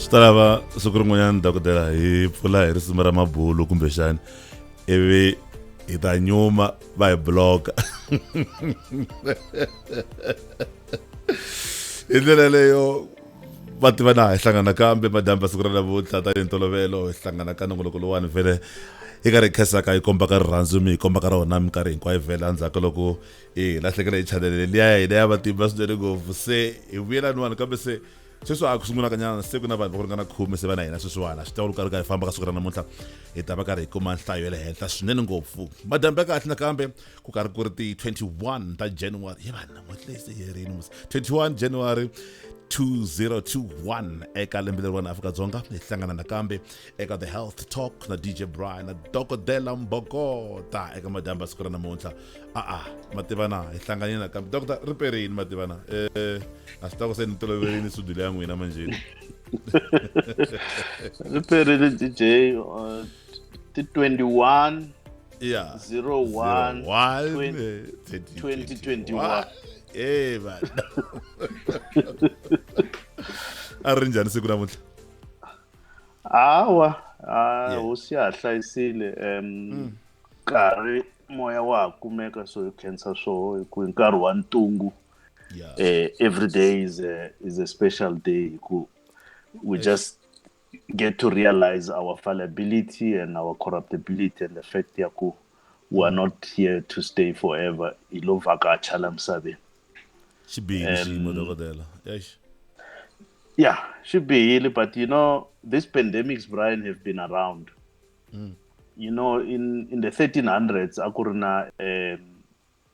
swi ta lava siku rin'wanyana dokodela hi pfula hi risimu ra mabulu kumbexani ivi hi ta nyuma va hi bloka hi ndlela leyo va tiva na hi hlangana kambe madyambe siku ra navutlha tanihi ntolovelo hi hlangana ka nongoloko lowani vhele hi karhi hi khensaka hi komba ka rirhandzu mi hi komba ka rona minkarhi hinkwayo vhele endzhaku ka loko hi lahlekela hi chanele liya ya hina ya matimba swinene ngopfu se hi vuyela niwani kambe se sweswi a ku sungulaka nyana se ku na vanhu va ku ringana khume se va na hina sweswiwana swi tawulu karhi karhi hi famba ka siku ra namuntlha hi ta va karhi hi kuma nhlayo ya le henhla swinene ngopfu madyambe ya kahle nakambe ku karhi ku ri ti 21 ta january ye vanhu namuntlha leyi se yerini musi 21 january 2021 eka lembe leri vanhu afrika-dzonga hi hlangana nakambe eka the health talk na dj brian na dokodela mbokota eka madyambu ya siku ra namuntlha a-a mativana hi hlanganile nakambe dokota ri perini mativana um a swi ta ku se ni toloverini sudule ya n'wina manjheni ri perini dj uh, ti 21 yeah. 01 20, 2021 e vana a ri njhani siku namuntlha hawa a hosi ya ha hlayisile um mm. nkarhi moya wa ha kumeka so hi khensa swoho hi ku hi nkarhi wa ntungu yeah. uh, every day is a, is a special day hi ku we just get to realize our fallibility and our corruptibility and the fact ya ku we are not here to stay forever hi lo vhakacha la misaveni xi bihile xiyimo um, dokodela eish yeah xi bihile but you know these pandemics brian have been around mm. you know in in the 1300s a ku ri na um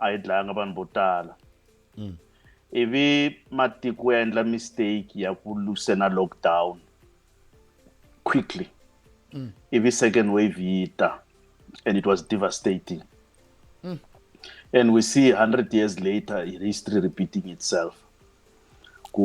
a yi dlayanga vanhu vo tala mm. ivi matiko ya endla mistake ya ku lusena lockdown quickly mm. ivi second wave yi ta and it was devastating mm. and we see 100 years later history repeating itself ku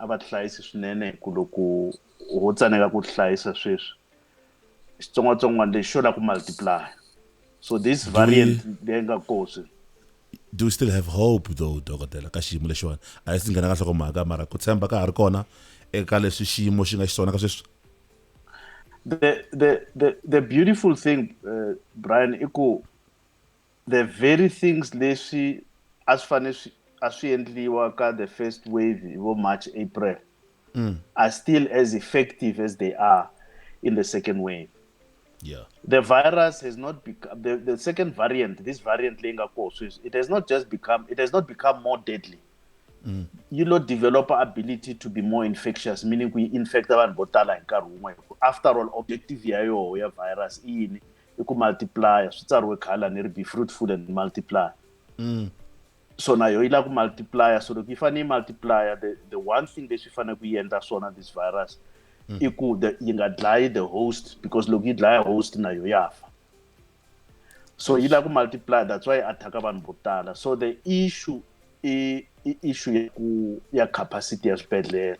a va tihlayisi swinene hi ku loko ho tsaneka ku tihlayisa sweswi xitsongwatsongwana lexi xo la ku multiply so this variant leyi nga kosi do we still have hope though dokotela ka xiyimo lexiwani a yi si nghena ka nhlokomhaka mara ku tshemba ka ha ri kona eka leswi xiyimo xi nga xiswona ka sweswi the the the the beautiful thing uh, Brian i ku the very things leswi a swi fanele swi a swi endliwa ka the first wave hi vo march april mm. are still as effective as they are in the second wave yeah. the virus has not become the, the second variant this variant leyi nga koho sweswi it has not just become it has not become more deadly mm. yi lo developer ability to be more infectious meaning ku yi infecta vanhu vo tala hi nkarhi wun'we after all objective ya yoho ya virus i yini i ku multiplier swi tsariwe khale lani ri be fruitful and multiplier mm. so na yo yi lava ku multiplier so loko yi fanele yi multiplier the, the one thing leswi yi fanele ku yi endla swona this virus mm. i ku yi nga dlayi the host because loko yi dlaya host na yo ya fa so yi lava ku multiplier that's why yi attack vanhu vo tala so the issue i, i issue ya ku ya capacity ya swibedhlele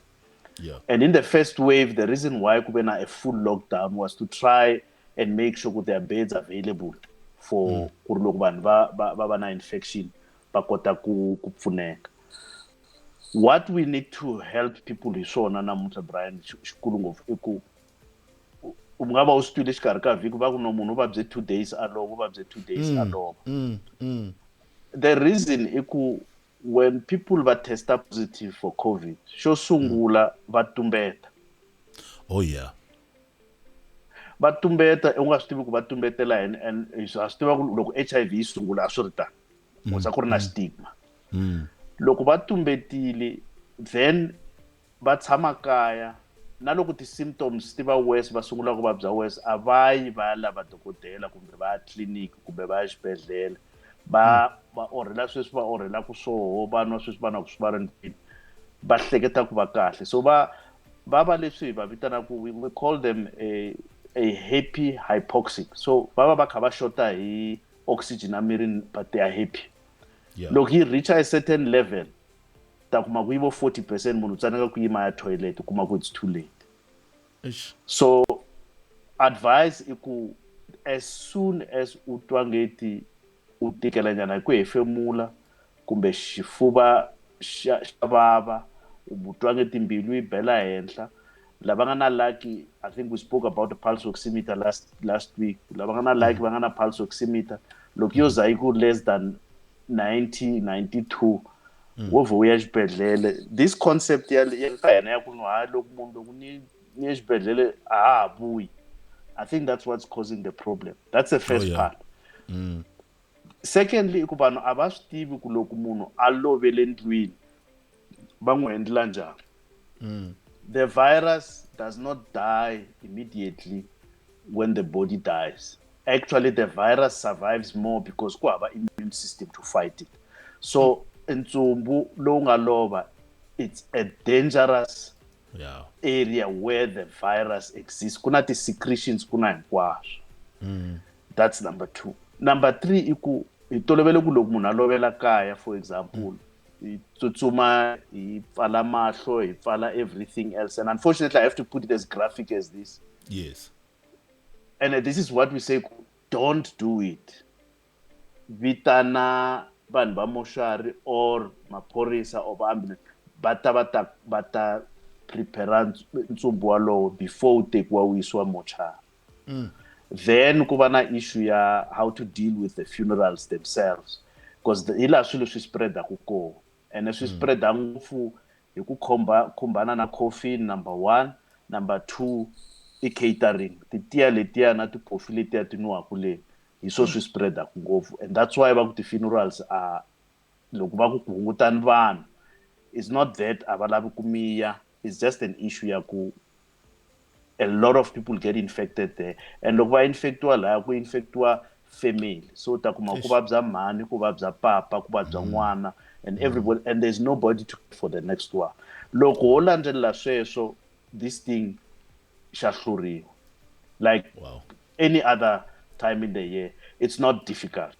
yeah. and in the first wave the reason why ku ve na a full lockdown was to try and make sure ku their beds available for mm. ku ri loko vanhu va va va va na infection va kota ku ku pfuneka what we need to help people hi swona namuntlha brian xikulu ngopfu i ku u nga va u swi twile xikarhi ka vhiki va ku no munhu u vabye two days alova u vabye two days mm, alova mm, the reason i ku when people va testa positive for covid xo sungula mm. va tumbeta oh yeah va tumbeta u nga swi tivi ku va tumbetela yini and ha swi tiva ku loko h i v yi sungula a swi ri tani mm, kuza ku ri na mm. stigma loko va tumbetile then va tshama kaya na loko ti-symptoms ti va worse va sungula ku vabya worse a va yi va ya lava dokodela kumbe va ya tliliniki kumbe va ya xibedhlele va hmm. va orhela sweswi va orhelaka swoho va nwa sweswi va nwa ku swi va ri ndlwini va hleketa ku va kahle so va va va leswi hi va vitanaka we, we call them a, a happy hypoxic so va va va kha va xota hi oxygen emirini but they are happy yeah. loko yi reacha a certain level ta kuma ku yi vo 40 percent munhu u tsaneka ku yima ya toilet u kuma ku it's too late Eish. so advice i ku as soon as u twa ngeti u tikela nyana hi ku hefemula kumbe xifuva xa xa vava u twa ngeti mbilu yi bela henhla lava nga na lucky i think we spoke about the pulse oximeter last last week lava nga na lucky mm. va nga na pulse oximeter loko yo za yi ku less than 90 92 mm. wo vhe u ya xibedhlele this concept ya ka hina ya ku no ha loko munhu loko ni ni ya xibedhlele a ha ha vuyi i think that's what's causing the problem that's the first oh, yeah. part mm. secondly i ku vanhu a va swi tivi ku loko munhu a lovele ndlwini va n'wi hendlela njhani mm. the virus does not die immediately when the body dies actually the virus survives more because ku hava immune system to fight it so ntsumbu lowu nga lova it's a dangerous yeah. area where the virus exists ku na ti-secretions ku na hinkwaswo mm. that's number two number three i ku hi tolovele ku loko munhu a lovela kaya for example mm. hi tsutsuma hi pfala mahlo hi pfala everything else and unfortunately i have to put it as graphic as this yes and uh, this is what we say don't do it vitana vanhu va moshari or maphorisa or vaambulance va ta va ta va ta prepare ntsumbu walowo before wu tekiwa wu yisiwa mochari mm. then ku va na issue ya how to deal with the funerals themselves because the, hi laha swilo swi spreadaku kona ene swi mm. spreada ngopfu hi ku khomba khumbana na coffin number one number two i catering titiya letiya na tipofi letiya ti nwiwaku le hi swo swi spreadaku ngopfu and that's why va ku ti-funerals a loko va ku ku hungutani vanhu is not that a va lavi ku miya is just an issue ya ku a lot of people get infected there and loko va infectiwa laya ku infectiwa family so u ta kuma ku vabya mhani ku vabya papa ku vabya mm. n'wana and mm. everybody and there's nobody to for the next one loko ho landzelela sweswo this thing xa hluriwa like wow. any other time in the year it's not difficult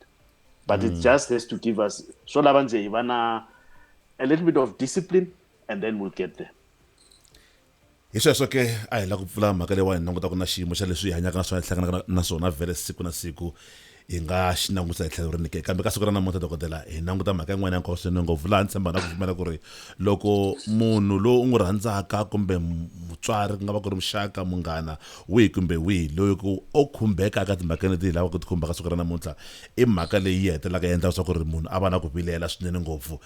but mm. it hmm. just has to give us so lava nje hi va na a little bit of discipline and then we'll get there hi sweswo ke a hi la ku pfula mhaka leyiwani langutaka na xiyimo xa leswi hi hanyaka na swona hi hlanganaka na swona vhele siku na siku hi nga xi langutisa hi tlhelo rinike kambe ka siku ra namuntlha dokodela hi languta mhaka yin'wana ya nkoka swinene ngopfu laha ni tshemba na ku pfumela ku ri loko munhu loyi u n'wi rhandzaka kumbe mutswari ku nga va ku ri muxaka munghana wihi kumbe wihi loyi ku o khumbeka eka timhaka leti hi lavaka ku ti khumbaka siku ra namuntlha i mhaka leyi yi hetelelaka yi endlaka leswaku ri munhu a va na ku vilela swinene ngopfu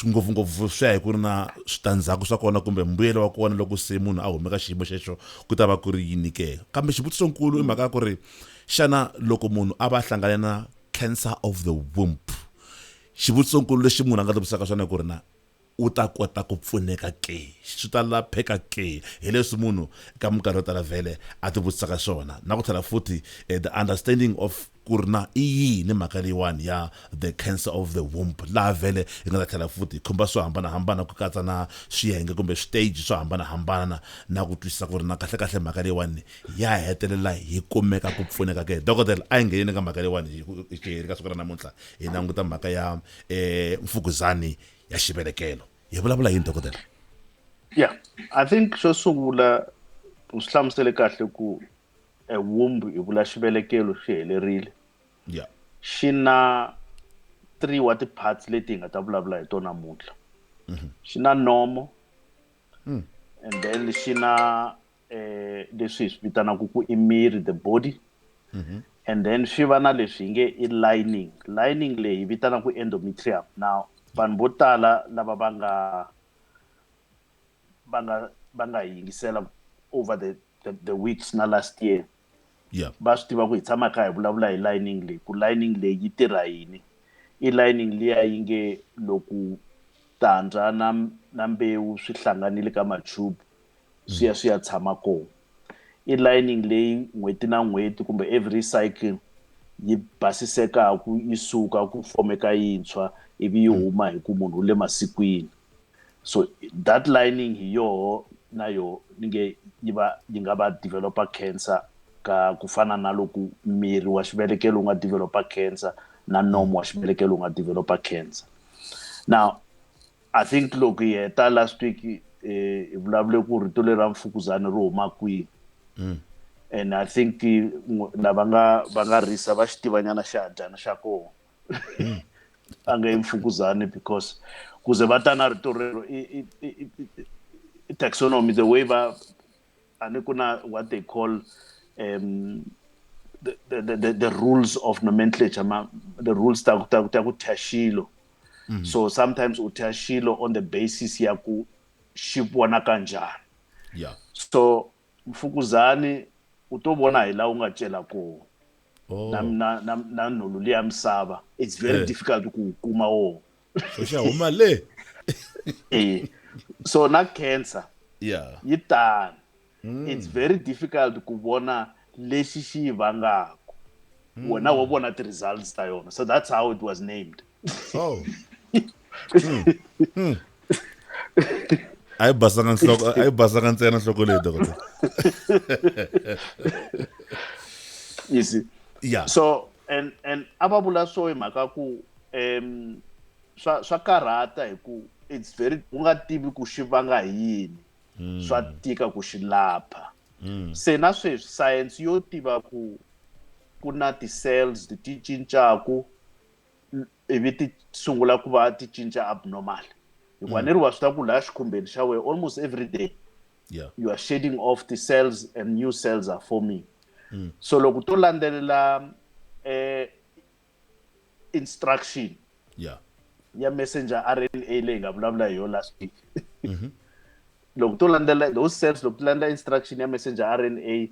ngopfungopfu swi ya hi ku ri na switandzhaku swa kona kumbe mbuyelo wa kona loko se munhu a humeka xiyimo xexo ku ta va ku ri yini ke kambe xivutiso nkulu i mhaka ya ku ri Xana loko munhu a va a hlangane na cancer of the womb, xivutisonkulu lexi munhu a nga tivutisaka xona i ku ri na u ta kota ku pfuneka ke? Swi ta lapheka ke? Hi leswi munhu eka minkarhi yo tala vhele a tivutisaka swona. Na ku tlhela futhi the understanding of ku ri na i yini mhaka leyiwani ya the cancer of the womb, laha vhele hi nga ta tlhela futhi hi khumba swo hambanahambana ku katsa na swiyenge kumbe switeji swo hambanahambana na ku twisisa ku ri na kahlekahle mhaka leyiwani ya hetelela hi kumeka ku pfuneka ke dokodela a yi ngheneni ka mhaka leyiwani hi xiheri ka siku ra namuntlha hi languta mhaka ya um mfukuzani ya xivelekelo hi vulavula yini dokodela ya i think xo sungula u swi hlamusele kahle ku e wumbu hi vula xivelekelo xi helerile ya xi na three wa ti-parts leti hi nga ta vulavula hi tona namuntlha mhm. xi na nomo mm. and then xi na eh, leswi hi swi vitanaka ku i miri the body mm -hmm. and then swi va na leswi hi nge i lining lining leyi hi vitanaka ku endometrium now vanhu vo tala lava va nga va nga va nga yingisela over the, the, the weeks na last year yeah. va swi tiva ku hi tshama kha hi vulavula hi lining leyi ku lining leyi yi tirha yini i lining liya yi nge loko tandza na na mbewu swi hlanganile ka matube swi ya swi ya tshama kona i lining leyi n'hweti na n'hweti kumbe every cycle yi basisekaku yi suka ku fomeka yintshwa ivi yi huma hi ku munhu u le masikwini so that lining hi yoho na yo ni nge yi va yi nga va developer cancer ka ku fana na loku miri wa xivelekelo wu nga developer cancer na nomo wa xivelekelo wu nga developer cancer now i think loko hi heta last week eh, hi vulavule ku rito leri ra mfukuzana ri huma kwihi mm. and i think eh, lava nga va nga risa va xitivanyana xa dyana xa kona a nga yi mfukuzani because kuze va ta na rito rero i taxonomy the way va a ni ku na what they call um the, the, the, the rules of nomenclature ma, the rules ta ta ta ku thya xilo mm -hmm. so sometimes u thya xilo on the basis ya ku xi vonaka njhani yeah. so mfukuzani u to vona hi laha u nga cela kona oh. na, na, na, na nhulu liya misava it's very hey. Eh. difficult ku wu kuma woho so xa huma le e so na cancer yeah. yi tani mm. it's very difficult ku vona lexi xi yi vangaka mm. wena wa vona ti-results ta yona so that's how it was named Oh. Hmm. Hmm. a yi basanga nhloko a yi basanga ntsena nhloko leyi dokotela you see yeah so and and a va vula so hi mhaka ku um swa swa karhata hi ku it's very u nga tivi ku xi vanga hi yini hmm. swa tika ku xi lapha hmm. se na sweswi science yo tiva ku ku na ti-cells ti cincaku ivi ti sungula ku va ti cinca abnormal hikuva mm. ni ri wa swi ta ku laha xikhumbeni xa wena almost every day yeah. you are shading off the cells and new cells are forming mm. so loko to landzelela eh, instruction yeah. ya messenger rna leyi nga vulavula hi yo last week mm -hmm. loko to landzelela those cells loko ti landzelela instruction ya messenger rna yi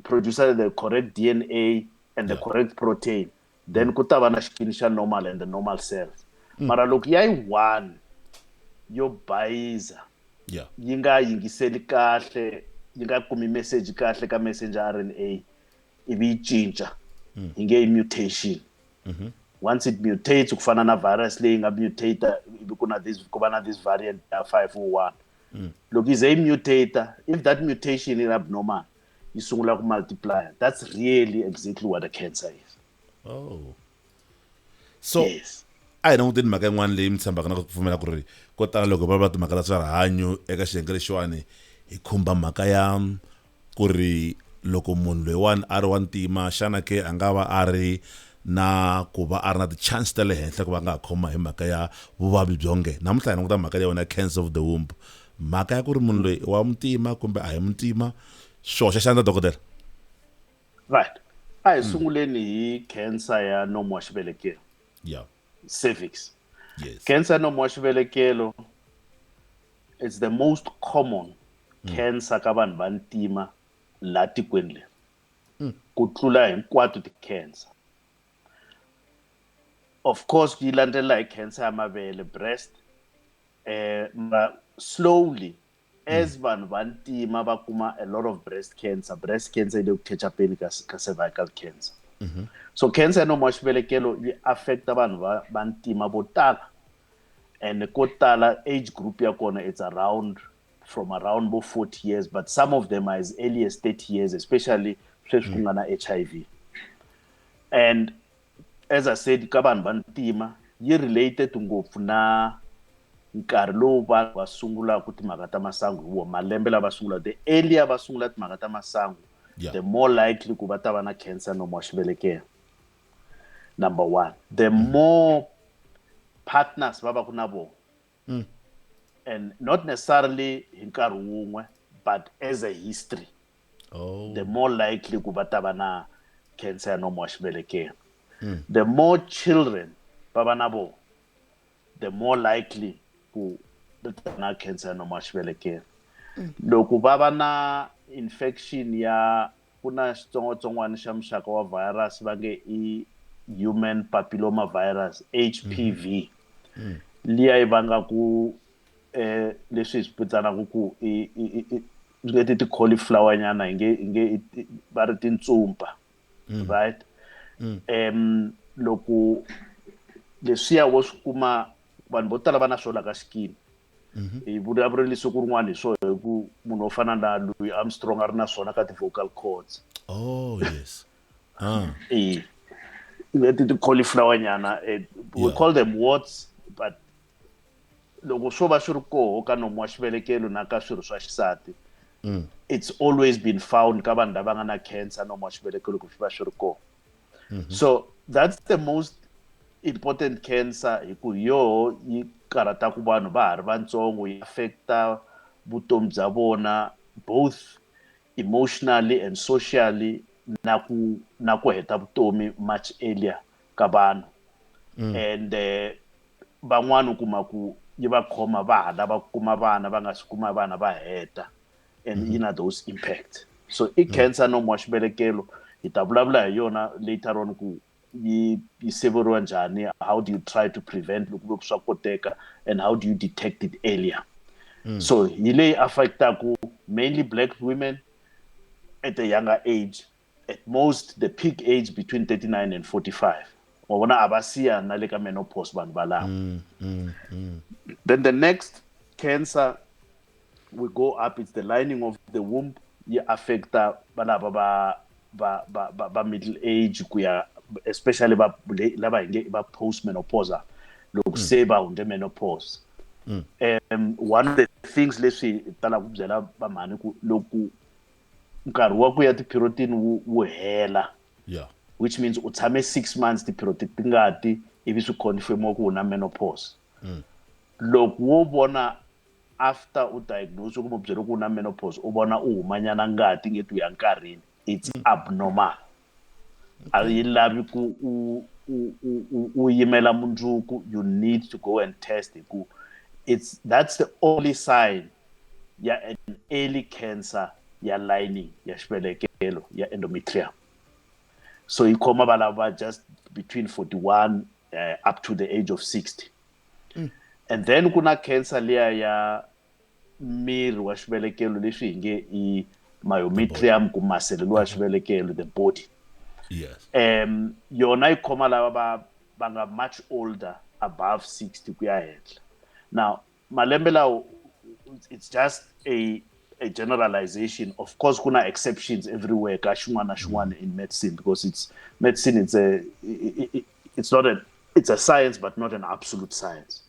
producer the correct dna and yeah. the correct protein then ku ta va na xikini xa normal and the normal cells mm. mara loko ya yi one yo bayiza yeah. yi nga yingiseli kahle yi nga kumi message kahle ka messenger r n a ivi yi cinca mm. yi nge yi mutation mm -hmm. once it mutates ku fana na virus leyi nga mutator ivi ku na this ku va na this variant ya five o one mm. loko yi ze yi mutator if that mutation is abnormal yi sungula ku multiplier that's really exactly what a cancer is oh so yes. a hi languteni mhaka yin'wana leyi mi tshembaka na ku pfumela ku ri ko tala loko va va timhaka ta swa rihanyo eka xiyenge lexiwani hi khumba mhaka ya ku ri loko munhu loyiwani a ri wa ntima xana ke a nga va a ri na ku va a ri na ti-chance ta le henhla ku va nga ha khoma hi mhaka ya vuvabyi byonge namuntlha hi languta mhaka leyi wona cancer of the womb mhaka ya ku ri munhu loyi i wa muntima kumbe a hi muntima swi hoxa xandla dokodela right a hi hmm. sunguleni hi cancer ya nomo wa xivelekelo yeah cervix yes cancer ya nomo wa xivelekelo it's the most common mm. cancer ka vanhu va ntima la tikweni leri mm. ku tlula hinkwato ti-cancer of course ku yi landzela hi cancer ya mavele breast eh ma slowly as hmm. vanhu va ntima va kuma a lot of breast cancer breast cancer yi le ku catch upeni ka ka cervical cancer mm -hmm. so cancer ya nomo wa xivelekelo yi affecta vanhu va va ntima vo tala and ko tala age group ya kona it's around from around bo 40 years but some of them are as early as 30 years especially sweswi ku mm. nga na hiv and as i said ka vanhu va ntima yi related ngopfu na nkarhi lowu vanhu va sungulaka timhaka ta masangu hi wona malembe lava sungula the earlier va sungula timhaka ta masangu yeah. the more likely ku va ta va na cancer nomo wa xivelekelo number one the mm. more partners va va ku na vona mm. and not necessarily hi nkarhi wun'we but as a history oh. the more likely ku va ta va na cancer ya nomo wa xivelekelo mm. the more children va va na vona the more likely ku na cancer ya nomo wa xivelekelo mm. loko va va na infection ya Ku na xitsongwatsongwana xa muxaka wa virus va nge i human papilloma virus HPV mm. liya yi vangaku eh leswi hi swi vitsanaka ku i swi nge ti ti-cauliflower nyana hi nge hi nge va ri tintsumpa mm. right mm. um loko leswiya wo swi kuma vanhu vo tala va na swo la ka xikimi mhm. hi vula vuri ni siku rin'wana hi swona hi ku munhu wo fana na louis armstrong a ri na swona ka ti-vocal cords oh yes ah. e leti ti-cauliflower nyana eh, we call them warts but loko swo va swi ri koho ka nomu wa xivelekelo na ka swirho swa xisati mm. it's always been found ka vanhu lava nga na cancer nomu wa xivelekelo ku swi va swi ri koho mm -hmm. so that's the most important cancer hi ku yoho yi karhataku vanhu va ha ri vantsongo yi affecta vutomi bya vona both emotionally and socially na ku na ku heta vutomi much earlier ka vanhu mm. and eh, van'wana u kuma ku yi va khoma va ha lava ku kuma vana va nga si kuma vana va heta and yi na those impact so i mm. cancer no wa xibelekelo hi ta vulavula hi yona later on ku yi yi siveriwa njhani how do you try to prevent loko ku swa koteka and how do you detect it earlier mm. so hi leyi affectaku mainly black women at a younger age at most the peak age between 39 and 45 wa vona a va siya na le ka menopause vanhu valava mm, mm, mm. then the next cancer we go up it's the lining of the womb yi affecta valava va va va va, va middle age ku ya especially va lava hi nge va post menopausal loko mm. se va hundze menopause mm. um one of the things leswi talaka ku byela vamhani ku loko nkarhi wa ku ya tiphirotini wu wu hela yeah which means u tshame six months tiphiroti ti nga ti ivi swi confirmiwa ku u na menopause Mm. loko wo vona after u diagnose kumbe u byeriwe ku u na menopause u vona u humanyana ngati nge ti u ya nkarhini it's abnormal a yi lavi ku u u u u u yimela mundzuku you need to go and test hi ku it's that's the only sign ya an early cancer ya lining ya xivelekelo ya endometrium so yi khoma valava just between 41 uh, eh, up to the age of 60 mm. and then ku na cancer leya ya miri wa xivelekelo leswi hi nge i myometrium ku masele lowa xivelekelo the body yes um yona yi khoma lava va va nga much older above 60 ku ya henhla now malembe lawo it's just a a generalization of course kuna exceptions everywhere ka xin'wana na xin'wana in medicine because it's medicine it's a it's not a it's a science but not an absolute science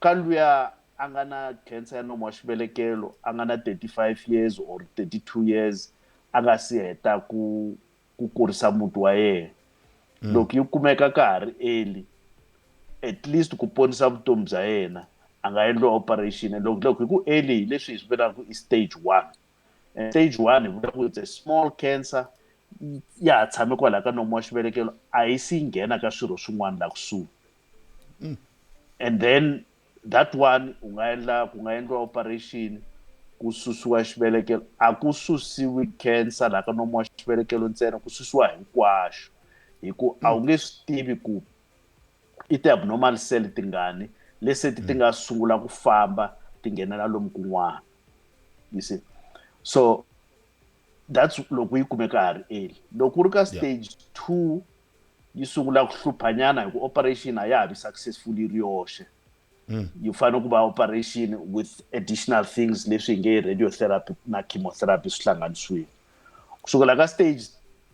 ka luya a nga na cancer ya nomu wa xivelekelo a nga na 35 years or 32 years a nga si heta ku ku kurisa muti wa yena mm. loko yi kumeka ka ha ri early at least ku ponisa vutomi bya yena a nga endliwa operation and loko loko hi ku early hi leswi hi swi vulaka i stage one and stage one hi vula ku it's a small cancer ya ha tshame kwalaho ka nomu wa xivelekelo a yi si yi nghena ka swirho swin'wana laha kusuhi mm. and then that one u nga endla ku nga endliwa operation ku susiwa xivelekelo a ku susiwi cancer laha ka nomu wa xivelekelo ntsena ku susiwa hinkwaxo hi ku a wu nge swi tivi ku i ti-abnormal cell tingani lese ti ti nga sungula ku famba ti nghenela lomu kun'wana you see so that's loko yi kumeka ha ri early loko u ri ka stage two yi sungula ku hluphanyana hi ku operation a ya ha vi successful yi ri yoxe mm. yi fanele ku va operation with additional things leswi hi nge radiotherapy na chemotherapy swi hlanganisiwile ku sukela ka stage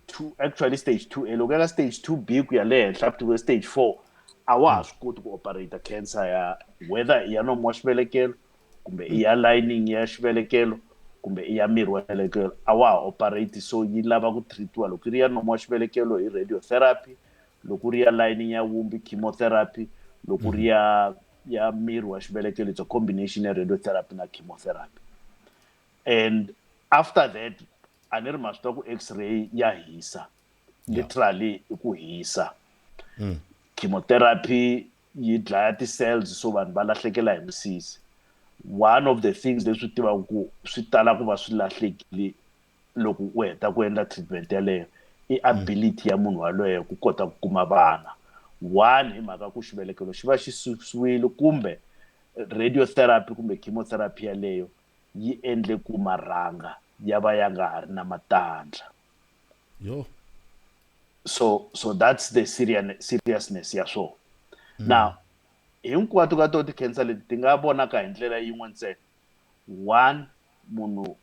two actually stage two a loko ya ka stage two b ku ya le henhla ku tive stage four a wa ha mm. swi koti ku operata cancer ya whether ya nomo wa xivelekelo kumbe i ya lining ya xivelekelo kumbe i ya miri wa xivelekelo a wa ha operate so yi lava ku treatiwa loko yi ri ya nomo wa xivelekelo hi radiotherapy loko ri ya lining ya wumbi chemotherapy loko ri ya ya miri wa xivelekelo it's a combination ya radiotherapy na chemotherapy and after that a ni ri ma swi tiva ku x-ray ya hisa literally i ku hisa mm. chemotherapy yi dlaya ti-cells so vanhu va lahlekela hi misisi one of the things leswi tivaka ku swi tala ku va swi lahlekile loko u heta ku endla treatment yaleyo i ability ya munhu waloye ku kota ku kuma vana one hi mhaka ku xivelekelo xi va xi susiwile kumbe radiotherapy kumbe chemotherapy yaleyo yi endle ku marhanga ya va ya nga ha ri na matandla Yo. So so that's the seriousness ya swona. Mm. Now hinkwato ka to ti-cancer leti ti nga vonaka hi ndlela yin'we ntsena one munhu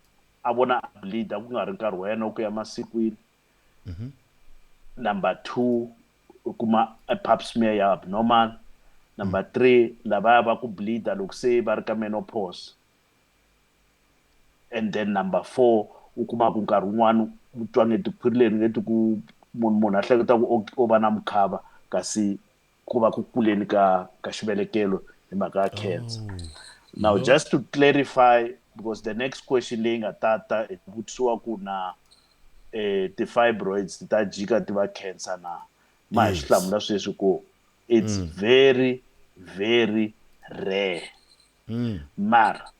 a vona a bleeda ku nga ri nkarhi wa yena wa ku ya masikwini mm-hmm. number two u kuma a pap smear ya abnormal number mm. three lavaya va ku bleeda loko se va ri ka menopause and then number four u kuma ku nkarhi wun'wana u twa nge tikhwirile ni nge ti ku munhu munhu a hleketa ku o va na mukhava kasi ku va ku kuleni ka ka xivelekelo hi mhaka ya cancer oh, now no. just to clarify because the next question leyi nga tata i vutisiwa ku na eh ti-fibroids ti ta jika ti va cancer na ma hi swi hlamula sweswi ku it's mm. very very rare Mara,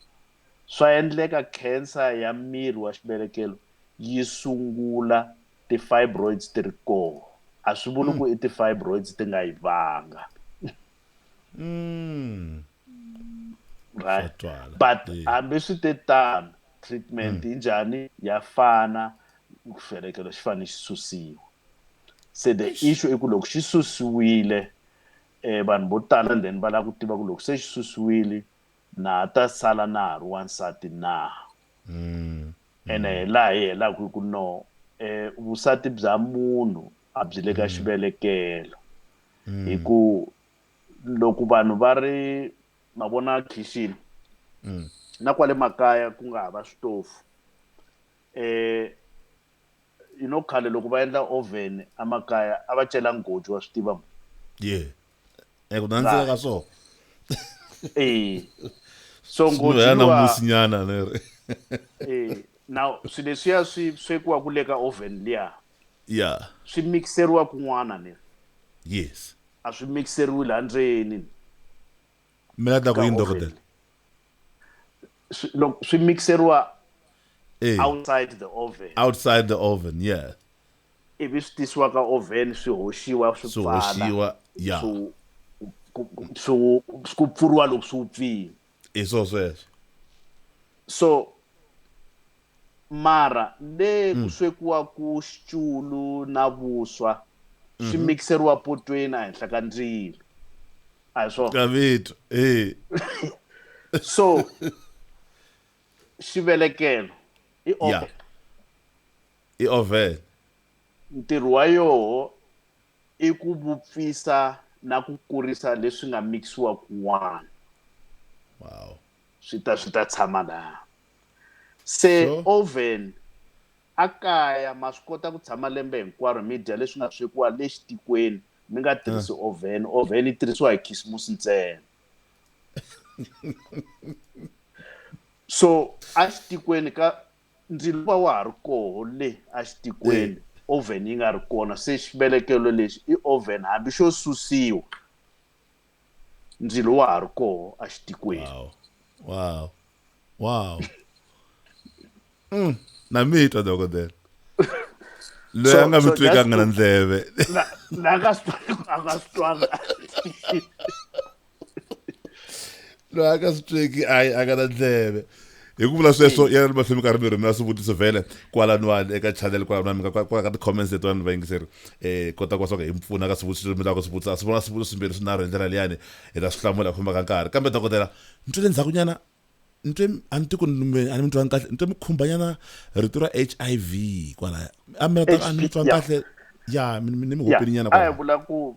swa endleka khensa ya miri wa xibelekelo yi sungula ti-fibroids ti ri kona. A swi vuli ku i ti-fibroids ti nga yi vanga. Right? But hambi swi te tano, treatment yi njhani? Ya fana, xivelekelo xi fanele xi susiwa. Se the issue i ku loko xi susiwile, e vanhu vo tala then va lava ku tiva ku loko se xi susiwile na ha ta sala na ha ri wansati na mm. ene mm. hi laha hi helaka hi ku no eh vusati bya munhu a byi le ka mm. xivelekelo mm. hi ku loko vanhu va ri ma vona khixini mm. na kwale makaya ku nga hava switofu eh You know khale loko va endla oven a makaya a va cela ngoji wa swi tiva mo ye eku nandzika ka swona eh so ngoji ya namusi nyana ne re eh now swi leswiya swi swekiwa ku le ka oven liya ya swi mixeriwa kun'wana ne yes a swi mixeriwi la ndzeni mi nga ta ku yini dokodela loko swi mixeriwa eh. outside the oven outside the oven yeah ivi swi tisiwa ka oven swi hoxiwa swi pfala ya swi ku pfuriwa loko swi pfile hi swo sweswo so mara le ku mm. swekiwa ku xichulu na vuswa swi mhm. mixeriwa potweni ehenhla ka ndzilo a hi swona gavito eh so xivelekelo i oven i oven ntirho wa yoho i ku vupfisa na ku kurisa leswi nga mikisiwa kun'wana wow swi ta swi ta tshama laha se so? oven a kaya ma swi kota ku tshama lembe hinkwaro mi dya leswi nga swekiwa le xitikweni mi nga tirhisi ah. oven oven yi tirhisiwa hi khisimusi ntsena so a xitikweni ka ndzilo va wa ha ri koho le a xitikweni oven yi nga ri kona se xivelekelo lexi i oven hambi xo susiwa ndzilo wa ha ri koho exitikweni wow wow wow mm. na mi twa dokodela loyi a nga mi twekanga na ndleve a nga swi twanga loyi a ka swi tweki a a nga na ndleve hi ku vula sweswo yena ni mahlumi karhi mi rhumela swivutiso vhele kwalaniwani eka channel kwalaniwani mi nga kwala ka ti-comments letiwani ni vayingiseri um kota ku va swa ku hi mi pfuna ka swivutiso leswi mi lavaka swivutiso a swi vona swivutiso swimbirhi swinharhu hi ndlela liyani hi ta swi hlamula hi ku famba ka nkarhi kambe dokodela ni twele ndzhakunyana ni twe a ni tiku a ni mi twanga kahle ni twe mi khumbanyana rito ra h i v kwalaya a mi a ni mi twanga kahle ya ni mi hopelinyana kwalaya vula ku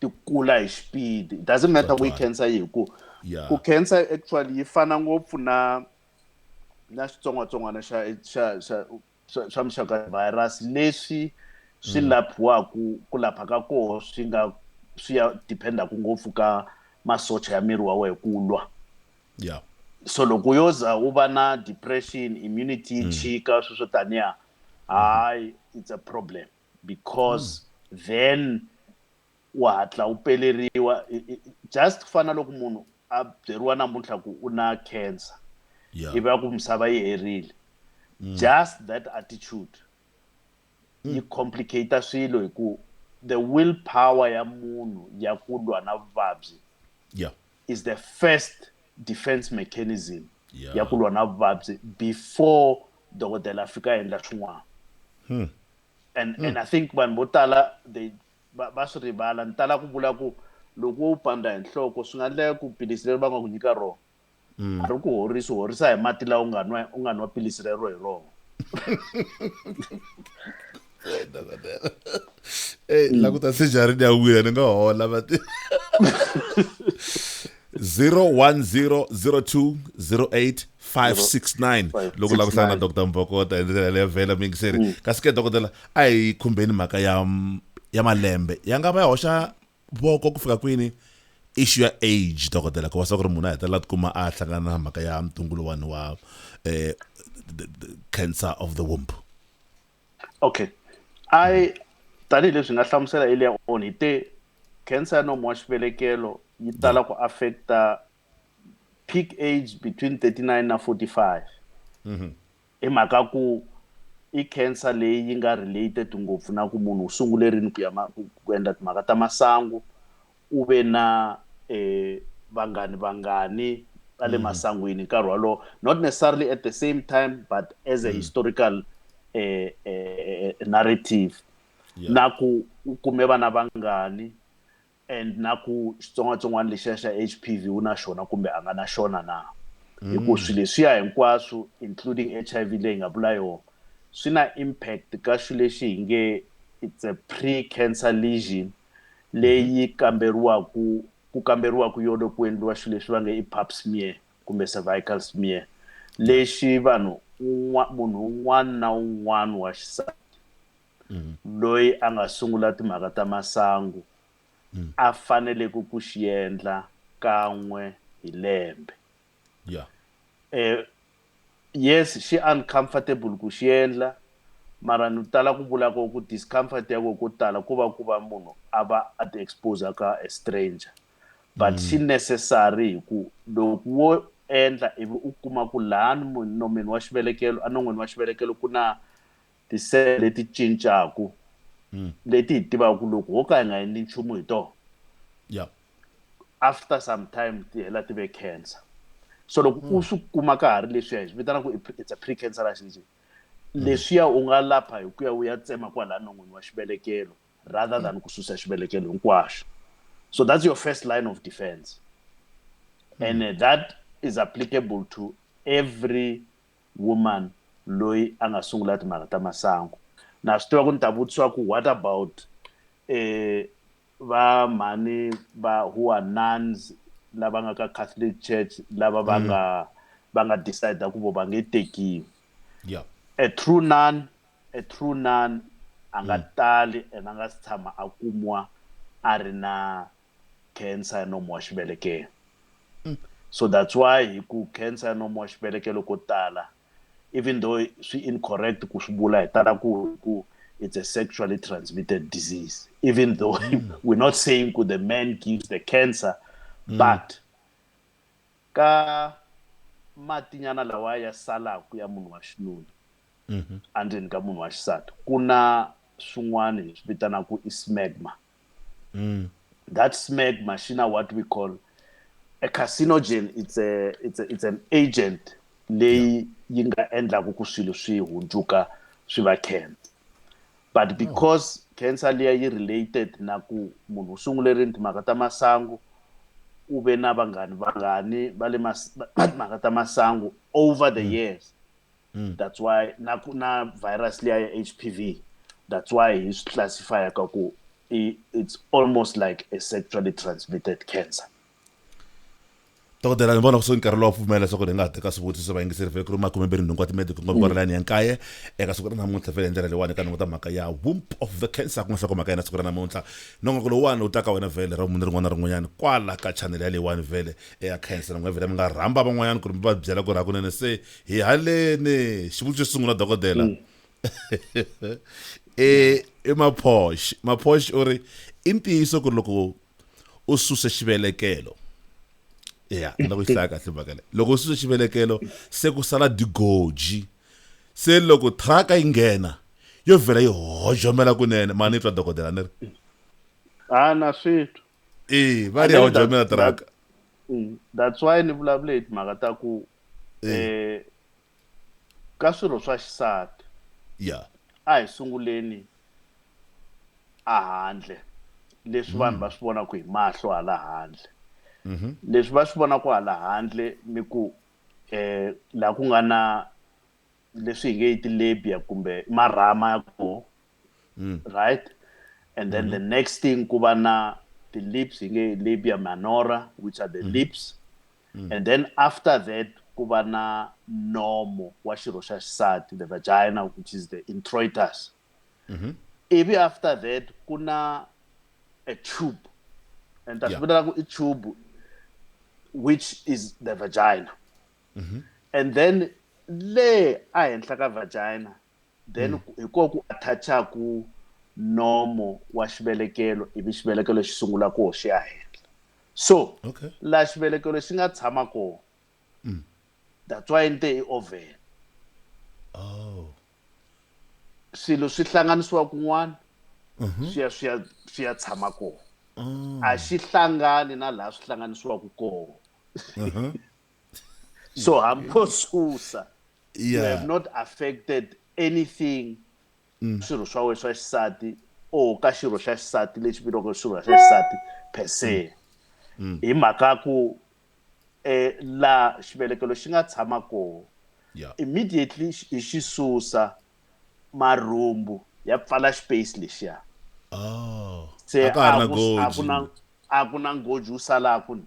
ti kula hi xipidi it doesn't matter ku yi cancer yihi ku ku cancer actually yi fana ngopfu na na xitsongwatsongwana xa xa xa xa muxaka virus leswi swi mm. laphiwaka ku lapha ka koho swi nga swi ya dependaka ngopfu ka masocha ya miri wa wehe ku lwa yeah. so loko yo za u va na depression immunity yi mm. chika sweswo taniya mm-hmm. hayi it's a problem because then u hatla u peleriwa just ku fana loko munhu a byeriwa namuntlha ku u na cancer yeah. ivi a ku misava yi herile mm. just that attitude mm. yi complicate swilo hi ku the will power ya munhu ya ku lwa na vuvabyi yeah. is the first defense mechanism yeah. ya ku lwa na vuvabyi before dokodela a fika a endla swin'wana hmm. and, hmm. and i think vanhu vo tala they va swi rivala ni tala ku vula ku loko wo pandza hi nhloko swi nga endleka ku pilisi leri va nga ku nyika rona hmm. a ri ku horisi horisa hi mati lawa u nga nwa u nga nwa pilisi rero hi rona Hey, la ku ta se jarini ya wina ni nga hola va ti 0100208569 loko la ku hlangana dr mbokota hi ndlela leyo vhela mi yingiseri mm. kasi ke dokodela a hi khumbeni mhaka ya ya malembe ya nga va ya hoxa voko ku fika kwini issue ya age dokodela ku va swa ku ri munhu a hetelela tikuma a hlangana na mhaka ya mtungu lowani wa um cancer of the womb okay i tanihileswi nga hlamusela earlier on hi te cancer ya nomo wa xivelekelo yi tala ku affecta peak age between 39 na 45 mm-hmm. hi mhaka ku i cancer leyi yi nga related ngopfu na ku munhu u sungule rini ku ya ku endla timhaka ta masangu U ve na e vanghani vangani va le masangwini nkarhi wolowo, not necessarily at the same time but as a historical e e narrative. Yeah. Na ku u kume vana vangani and na ku xitsongwatsongwana lexiya xa HPV u na xona kumbe a nga na xona na. Hi ku swilo leswiya hinkwaswo including HIV leyi hi nga vula yona swi na impact ka xilo lexi hi nge it's a pre-cancer lesion leyi kamberiwaku ku kamberiwaku yona ku endliwa xilo lexi va nge i pap smear kumbe cervical smear lexi vanhu un'wa munhu un'wana na un'wana wa xisati loyi a nga sungula timhaka ta masangu mm. a faneleke ku xi endla kan'we hi lembe yeah. e, yes xi uncomfortable ku xi endla mara ni tala ku vula ko ku discomfort ya ko ko tala ku va ku va munhu a va a ti expose ka a stranger but mm. xi necessary hi ku loko wo endla ivi u kuma ku laha nomeni wa xivelekelo enon'wini wa xivelekelo ku na ti-cell leti cincaku mm. leti hi tivaka ku loko ho ka hi nga endli nchumu hi tona yeah. after some time ti hela ti ve cancer so loko mm. u swi kuma ka ha ri leswiya hi swi vitana ku it's a pre cancer accident mm. leswiya u nga lapha hi ku ya u ya tsema kwalaya non'wini wa xivelekelo rather mm. than ku susa xivelekelo hinkwaxo so that's your first line of defense mm. and uh, that is applicable to every woman loyi a nga sungula timhaka ta masangu na swi tiva ku ni ta vutisiwa ku what about eh va mhani va who are nuns lava nga ka catholic church lava va mm. nga va nga decide ku vo va nge tekiwi yeah. a true nun a true nun a nga mm. tali and a nga si tshama a kumiwa a ri na cancer ya nomu wa xivelekelo mm. so that's why hi ku cancer ya nomu wa xivelekelo ko tala even though swi incorrect ku swi vula hi tala ku ku it's a sexually transmitted disease even though mm. we're not saying ku the man gives the cancer mm. but ka matinyana lawa ya salaku ya munhu wa xinuna mm-hmm. endzeni ka munhu wa xisati ku na swin'wana hi swi vitanaka i smegma Mm. That SMEG machine, what we call a carcinogen, it's a it's a, it's an agent leyi yi nga endlaku ku swilo swi hundzuka swi va cancer but oh. because oh. cancer leyi yi related na ku munhu u sungule ri timhaka ta masangu u ve na vanghani vanghani va le timhaka ta masangu over the mm. years mm. that's why na ku na virus liya ya h p v that's why hi swi classifya ka ku it's almost like a sexually transmitted cancer dokodela ni vona kusuhi nkarhi lowu wa pfumela leswaku hi nga ha teka swivutiso swa vayingiseri vhele ku ri makume mbirhi nhungu wa timedico nga vukora layani ya nkaye eka siku ra namuntlha vhele hi ndlela leyiwani eka nongo ta mhaka ya womp of the cancer ku nga swaku mhaka yena siku ra namuntlha nongoko lowuwani wu ta ka wena vhele ra munhu rin'wana na rin'wanyana kwala ka chanele ya leyiwani vhele eya cancer na n'wina vhele mi nga rhamba van'wanyana ku ri mi va byela ku ri hakunene se hi haleni xivutiso xo sungula dokodela mm. e i maphosh maphosh u ri i ntiyiso ku ri loko u suse xivelekelo ya na ku yi hlaya kahle mhaka leyi loko u suse xivelekelo se ku sala digoji se loko thraka yi nghena yo vhela yi hojomela kunene mani yi twa dokodela ni ri a na swi twa e va ri a wu jamela tiraka mm, that's why ni vulavule hi timhaka ta ku um ka swirho swa xisati ya a hi sunguleni a handle leswi vanhu va mm. swi vonaka hi mahlo hala handle mm-hmm. leswi va swi vonaka hala handle ni ku um laha ku nga na leswi hi nge yi tilabia kumbe marhama ya koho mm. right and then mm -hmm. the mm-hmm. next thing ku va na ti-lips hi nge labia manora which are the mm -hmm. lips mm. and then after that ku va na nomo wa xirho xa xisati the vagina which is the introitus mm -hmm. ivi after that ku na a tube and ta swi vitanaka i tube which is the vagina mm -hmm. and then le ehenhla ka vagina then mm. hi koho ku atthachaku nomo wa xivelekelo ivi xivelekelo xi sungula koho xi ya henhla so okay. laha xivelekelo xi nga tshama koho mm. that's why ni te i oven oh. swilo swi hlanganisiwa kun'wana uh mhm. -huh. swi ya swi ya swi ya tshama koho oh. a xi hlangani na laha swi hlanganisiwaka koho uh mhm. -huh. so hamkho susa you have not affected anything mm. swirho swa wena swa xisati or ka xirho xa xisati lexi vuriwaka swirho xa xisati per se mm. Mm. hi mhaka ku um laha xivelekelo xi nga tshama koho immediately hi xi susa marhumbu ya pfala space lexiya oh. se a ku na ngoji wu salaka ni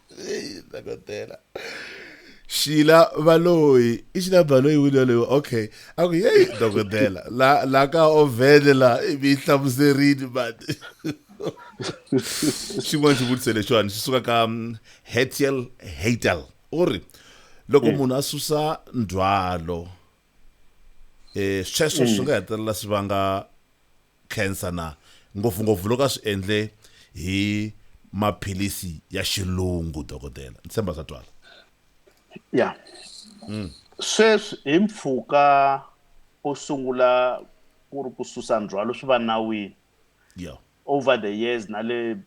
ndakotela shila baloyi i shila baloyi wini yaloyiwa okay a ku yeyi dokodela la la ka ovhene la i mi yi hlamuserini mati xin'wana xivutiso lexiwani xi suka ka mm, hetiel hatel u ri loko mm. munhu a susa ndzhwalo um sweswo swi mm. nga hetelela swi vanga cancer na ngopfungopfu loko a swi endle hi maphilisi ya xilungu dokodela ni tshemba swa twala ya mm. sweswi hi mpfhuka u sungula ku ri ku susa ndzhwalo swi va nawini yeah. over the years na le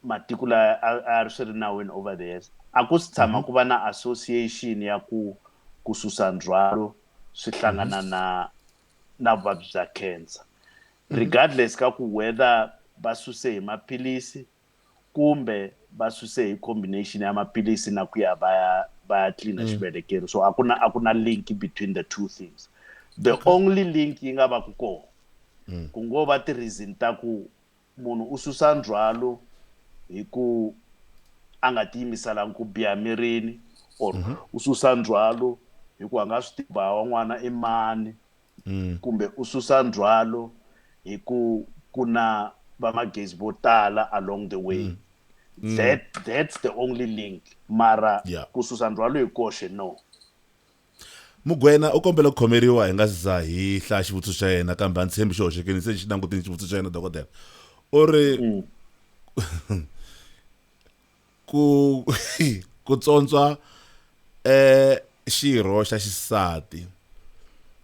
matiko la a ri swi ri nawini over the years a ku si tshama mhm. ku va na association ya ku ku susa ndzhwalo swi mhm. hlangana na na vuvabyi bya cancer mhm. regardless ka ku whether va suse hi maphilisi kumbe va suse hi combination ya maphilisi na ku ya va ya va ya cleana mm. xivelekelo so a ku na a ku na link between the two things the only link yi nga va ku kona mm. ku ngo va ti-reason ta ku munhu u susa ndzhwalo hi ku a nga tiyimiselanga ku biha mirini or mm -hmm. u susa ndzhwalo hi ku a nga swi tiva wan'wana i mani mm. kumbe u susa ndzhwalo hi ku ku na vamagezi vo tala along the way mm. Mm. that that's the only link mara yeah. ku susa ndzhwalo hi koxe no Mugwena u kombele ku khomeriwa hi nga si za hi hlaya xivutiso xa yena kambe a ndzi tshembi xi hoxekile se ni xi langutini xivutiso xa yena dokodela u ri ku ku tsontswa eh xirho xa xisati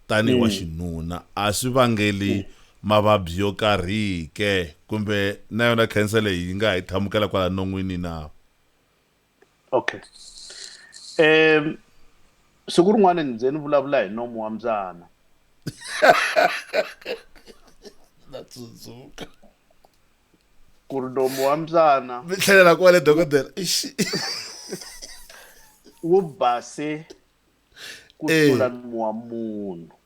tanihi wa xinuna a swi vangeli mavabyi yo karhi ke kumbe na yona cancer leyi yi nga hi tlhamukela kwala non'wini na okay um siku rin'wana ni ze ni vulavula hi nomu wa mbyana na tsundzuka ku ri nomu wa mbyana mi tlhelela kwale dokodela wu base ku tlula eh. nomu wa munhu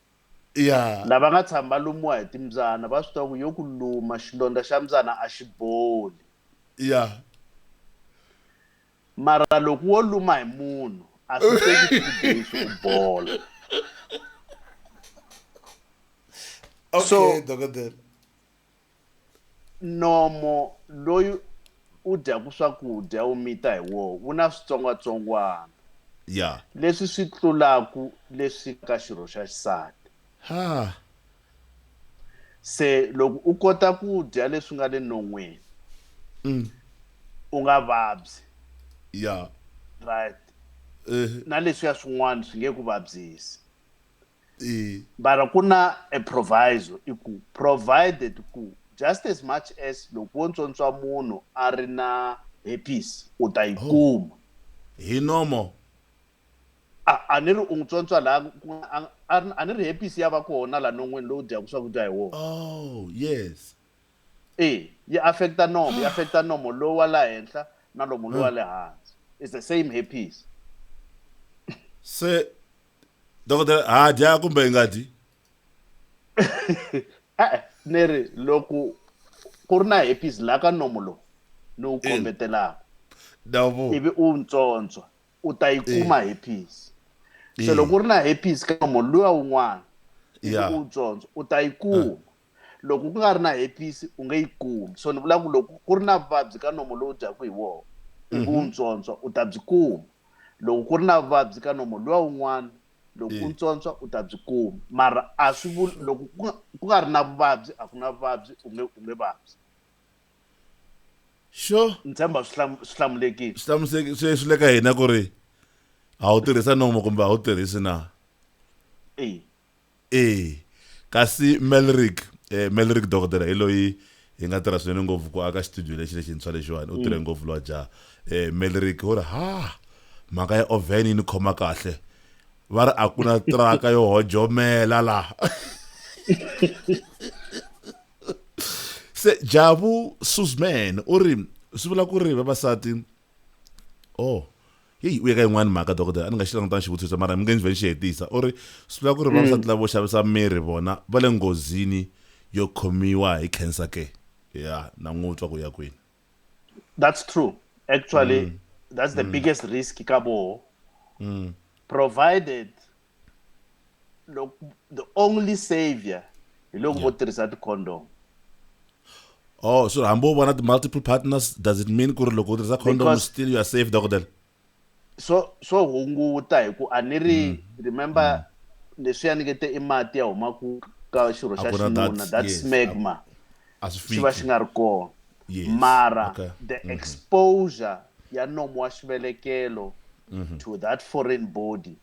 ya lava nga tshama va lumiwa hi timbyana va swi tiva ku yo ku luma xilondza xa mbyana a xi boli ya mara loko wo luma hi munhu a swi teki two days u bola okay so, dokodela nomo loyi u dyaku swakudya u mita hi woho wu na switsongwatsongwana ya leswi swi tlulaku leswi ka xirho xa xisati ha se loko u kota ku dya leswi nga le non'wini mm. u nga vabyi ya right eh. na leswiya swin'wana swi nge ku vabyisi bara ku na a proviso i ku provided ku just as much as loko wo ntswontswa munhu a ri na herpes u ta yi oh. kuma hi nomo a ni ri u n'wi tsontswa laha a ni ri hepisi ya va kona laha non'weni lowu dyaka swakudya hi wona oh yes e yi affecta nomo yi ah. affecta nomo lowu wa la henhla na lomu lowu wa le hansi is the same hepisi se dokodela ha dya kumbe hi nga dyi e-e ni ri loko ku ri na hepisi laha ka nomo lowu ni wu kombetelaka ivi u ntsontswa u ta yi kuma eh. herpes se eh. loko u ri na herpes ka nomo luya wun'wana ivi u tsondzo u ta yi eh. kuma loko ku nga ri na herpes u nge yi kumi so ni vula ku loko ku ri na vuvabyi ka nomo lowu dyaku hi wona ivi u mhm. ntsontswa u ta byi kuma loko ku ri na vuvabyi ka nomo luya wun'wana loko u ntsontswa u ta byi kuma mara a swi vuli loko ku nga ri na vuvabyi a ku na vuvabyi u nge u nge vabyi xo ni tshemba swi hlam- swi hlamulekile swi hlamuseki swi swi le ka hina ku ri a wu tirhisa nomo kumbe a wu tirhisi na eyi ee kasi melrick eh, melrick dokodela hi loyi hi nga tirha swinene ngopfu ku aka xitudio lexi lexintshwa lexiwani u tirhe ngopfu lowa jaha eh, melrick u ri ha mhaka ya oven yi ni khoma kahle va ri a ku na traka yo hojomela laha se jabu susman u ri swi vula ku ri vavasati oh heyi u ye ka yin'wani mhaka dokodela a ni nga xi langutanga xivutiso mara mi nge ndzi vhe ni xi hetisa u ri swi vula ku ri vavasati mm. lavo xavisa miri vona va le nghozini yo khomiwa hi cancer ke ya na n'wi twa ku ya kwini that's true actually mm. that's the mm. biggest risk ka voho mm. provided loko the only savior hi loko vo tirhisa ti-condom oh so hambi u vona ti-multiple partners does it mean ku ri loko u tirhisa condom still you are safe dokodela swo swo hunguta hi ku a ni ri mm. remember mm. leswi ya nikete i mati ya huma ku ka xirho xa xinuna that smegma xi va xi nga ri kona mara the mm-hmm. exposure ya nomo wa xivelekelo mm-hmm. to that foreign body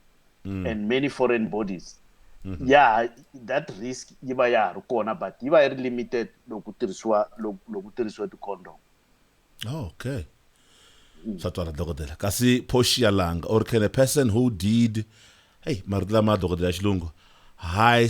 mm. and many foreign bodies mm -hmm. ya that risk yi va ya ha ri kona but yi va yi ri limited loko tirhisiwa loko tirhisiwa ti-condom oh, okay mm. swa twala dokodela kasi phoxi ya langa or can a person who did hey marito lama dokodela ya xilungu high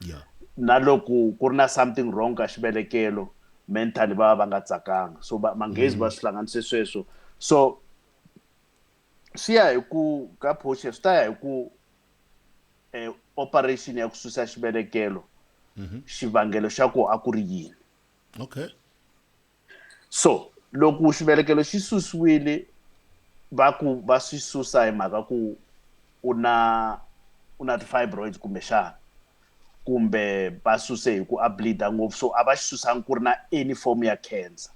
yeah. na loko ku ri na something wrong ka xivelekelo mentally va va va nga tsakanga so manghezi va mm. swi hlanganise sweswo so swi ya hi ku ka portion swi ta ya hi ku um operation ya ku susa xivelekelo mm-hmm. xivangelo xa ku a ku ri yini okay so loko xivelekelo xi susiwile va ku va swi susa hi mhaka ku u na u na ti-fibroids kumbexana kumbe va suse hi ku a bleeda ngopfu so a va xi susangi ku ri na any form ya cancer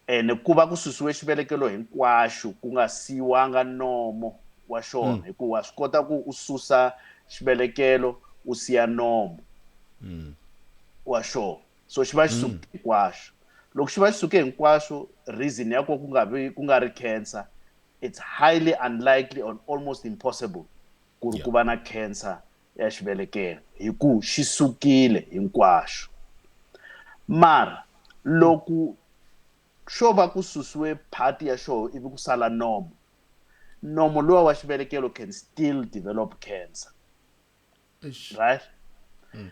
ene ku va ku susiwe xivelekelo hinkwaxo ku nga siyiwanga nomo wa xona hmm. hikuva swi kota ku u susa xivelekelo u siya nomo hmm. wa xona so xi va xi suke mm. hinkwaswo loko xi va xi suke hinkwaswo reason ya ko ku nga vi ku nga ri cancer it's highly unlikely or almost impossible ku ri ku va na cancer ya xivelekelo hi ku xi sukile hinkwaswo mara loko xo va ku susiwe part ya xoho ivi ku sala nomo nomo lowa wa xivelekelo can still develop cancer Eish. right Mm.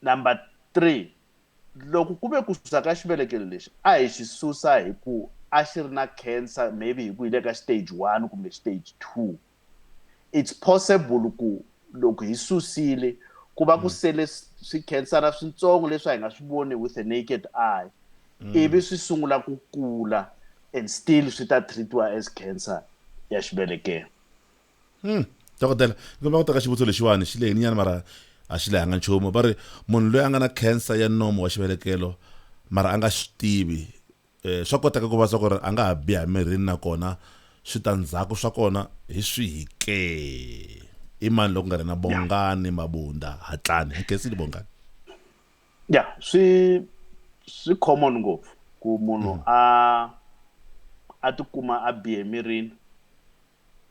number three loko ku ve ku susa ka xivelekelo lexi a hi xi susa hi ku a xi ri na cancer maybe hi ku hi le ka stage one kumbe stage two it's possible ku loko hi susile ku va ku sele s- swikhansara swintsongo leswi a hi nga swi voni with a naked eye ivi swi sungula ku kula and still swi ta treatiwa as cancer ya xivelekelo hmm. dokodela ndzi kombela ku teka xivutiso lexiwani xi lehini nyana mara a xi lehanga nchumu va ri munhu loyi a nga na cancer ya nomo wa xivelekelo mara a nga swi tivi um swa koteka ku va swa ku ri a nga ha biha mirini nakona switandzhaku swa kona hi swihi ke i mani loko nga ri na bongani mabunda hatlani hi kensini bongani ya swi swi common ngopfu ku munhu mm. a a tikuma a bihe mirini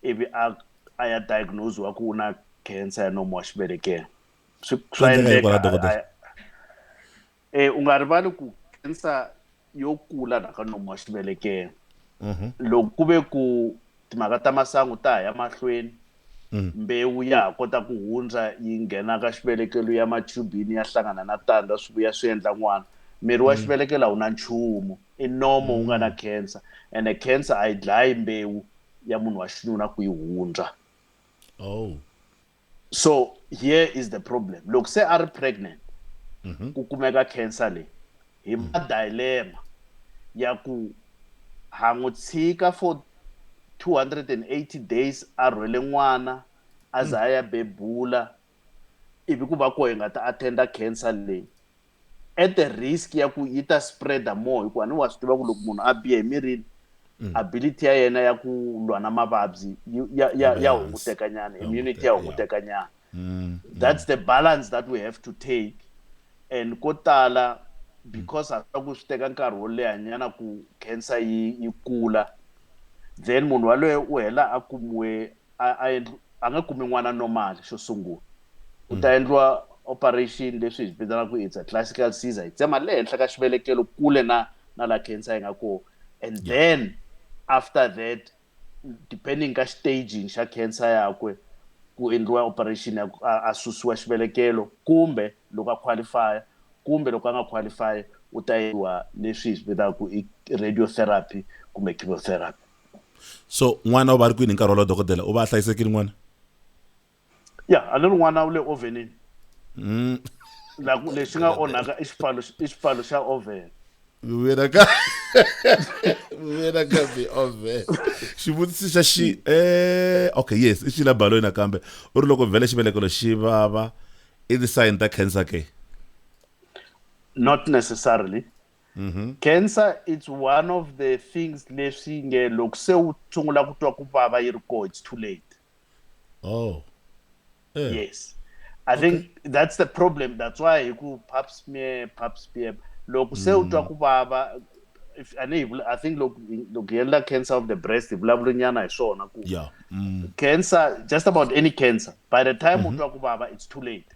ivi a a ya diagnose wa ku u na cancer ya nomo wa xivele ke swi swa endleka e u nga rivali ku cancer yo kula la ka nomo wa xivele ke mhm. loko ku ve ku timhaka ta masangu ta ha ya mahlweni mhm. mbewu ya ha kota ku hundza yi nghena ka xivelekelo ya machubini ya hlangana na tandza swi vuya swi endla n'wana miri wa mhm. xivelekelo a wu na nchumu i nomo wu nga na cancer ene cancer a yi dlayi mbewu ya munhu wa xinuna ku yi hundza oh so here is the problem loko se a ri pregnant mhm. ku kumeka cancer leyi hi ma mhm. dilemma ya ku ha n'wi tshika for 280 days a rhwele n'wana a za mhm. a ya bebula ivi ku va ko hi nga ta attenda cancer leyi at the risk ya ku yi ta spreader more hikuva ni wa swi tiva ku loko munhu a bihe emirini mm. ability ya yena ya ku lwa na mavabyi ya hunguteka nyana immunity ya hunguteka nyana mm, mm. that's the balance that we have to take and ko tala because a swi ku swi teka nkarhi wo leha nyana ku cancer yi yi kula then munhu waloye u hela a kumiwe a a endli a nge kumi n'wana normal xo sungula ku mm. ta endliwa operation leswi hi vitanaka ku it's a classical caesar hi tsema le henhla ka xivelekelo kule na na la cancer yi nga kona and yeah. then after that depending ka staging xa cancer yakwe ku endliwa operation ya a susiwa xivelekelo kumbe loko a qualify kumbe loko a nga qualify u ta yiwa leswi hi swi vitaka ku i radiotherapy kumbe chemotherapy so n'wana u va ri kwini hi nkarhi wolowo dokodela u va a hlayisekile n'wana ya a ni ri n'wana u le ovenini mm. laku lexi nga onhaka i xipfalo i xipfalo xa oven vuyela ka vuyela ka bi oven xivutiso xa xi eh okay yes i xila baloyi nakambe u ri loko vhele xivelekelo xi vava i ti-sign ta cancer ke not necessarily mm -hmm. cancer it's one of the things leswi nge loko se u sungula ku twa ku vava yi ri koo it's too late oh eh. yes i okay. think that's the problem that's why hi ku pap smear pap smear loko se u twa mm. ku vava if a ni i think loko loko hi endla cancer of the breast hi vulavula nyana hi swona ku yeah. mm. cancer just about any cancer by the time mm -hmm. u mm-hmm. twa ku vava it's too late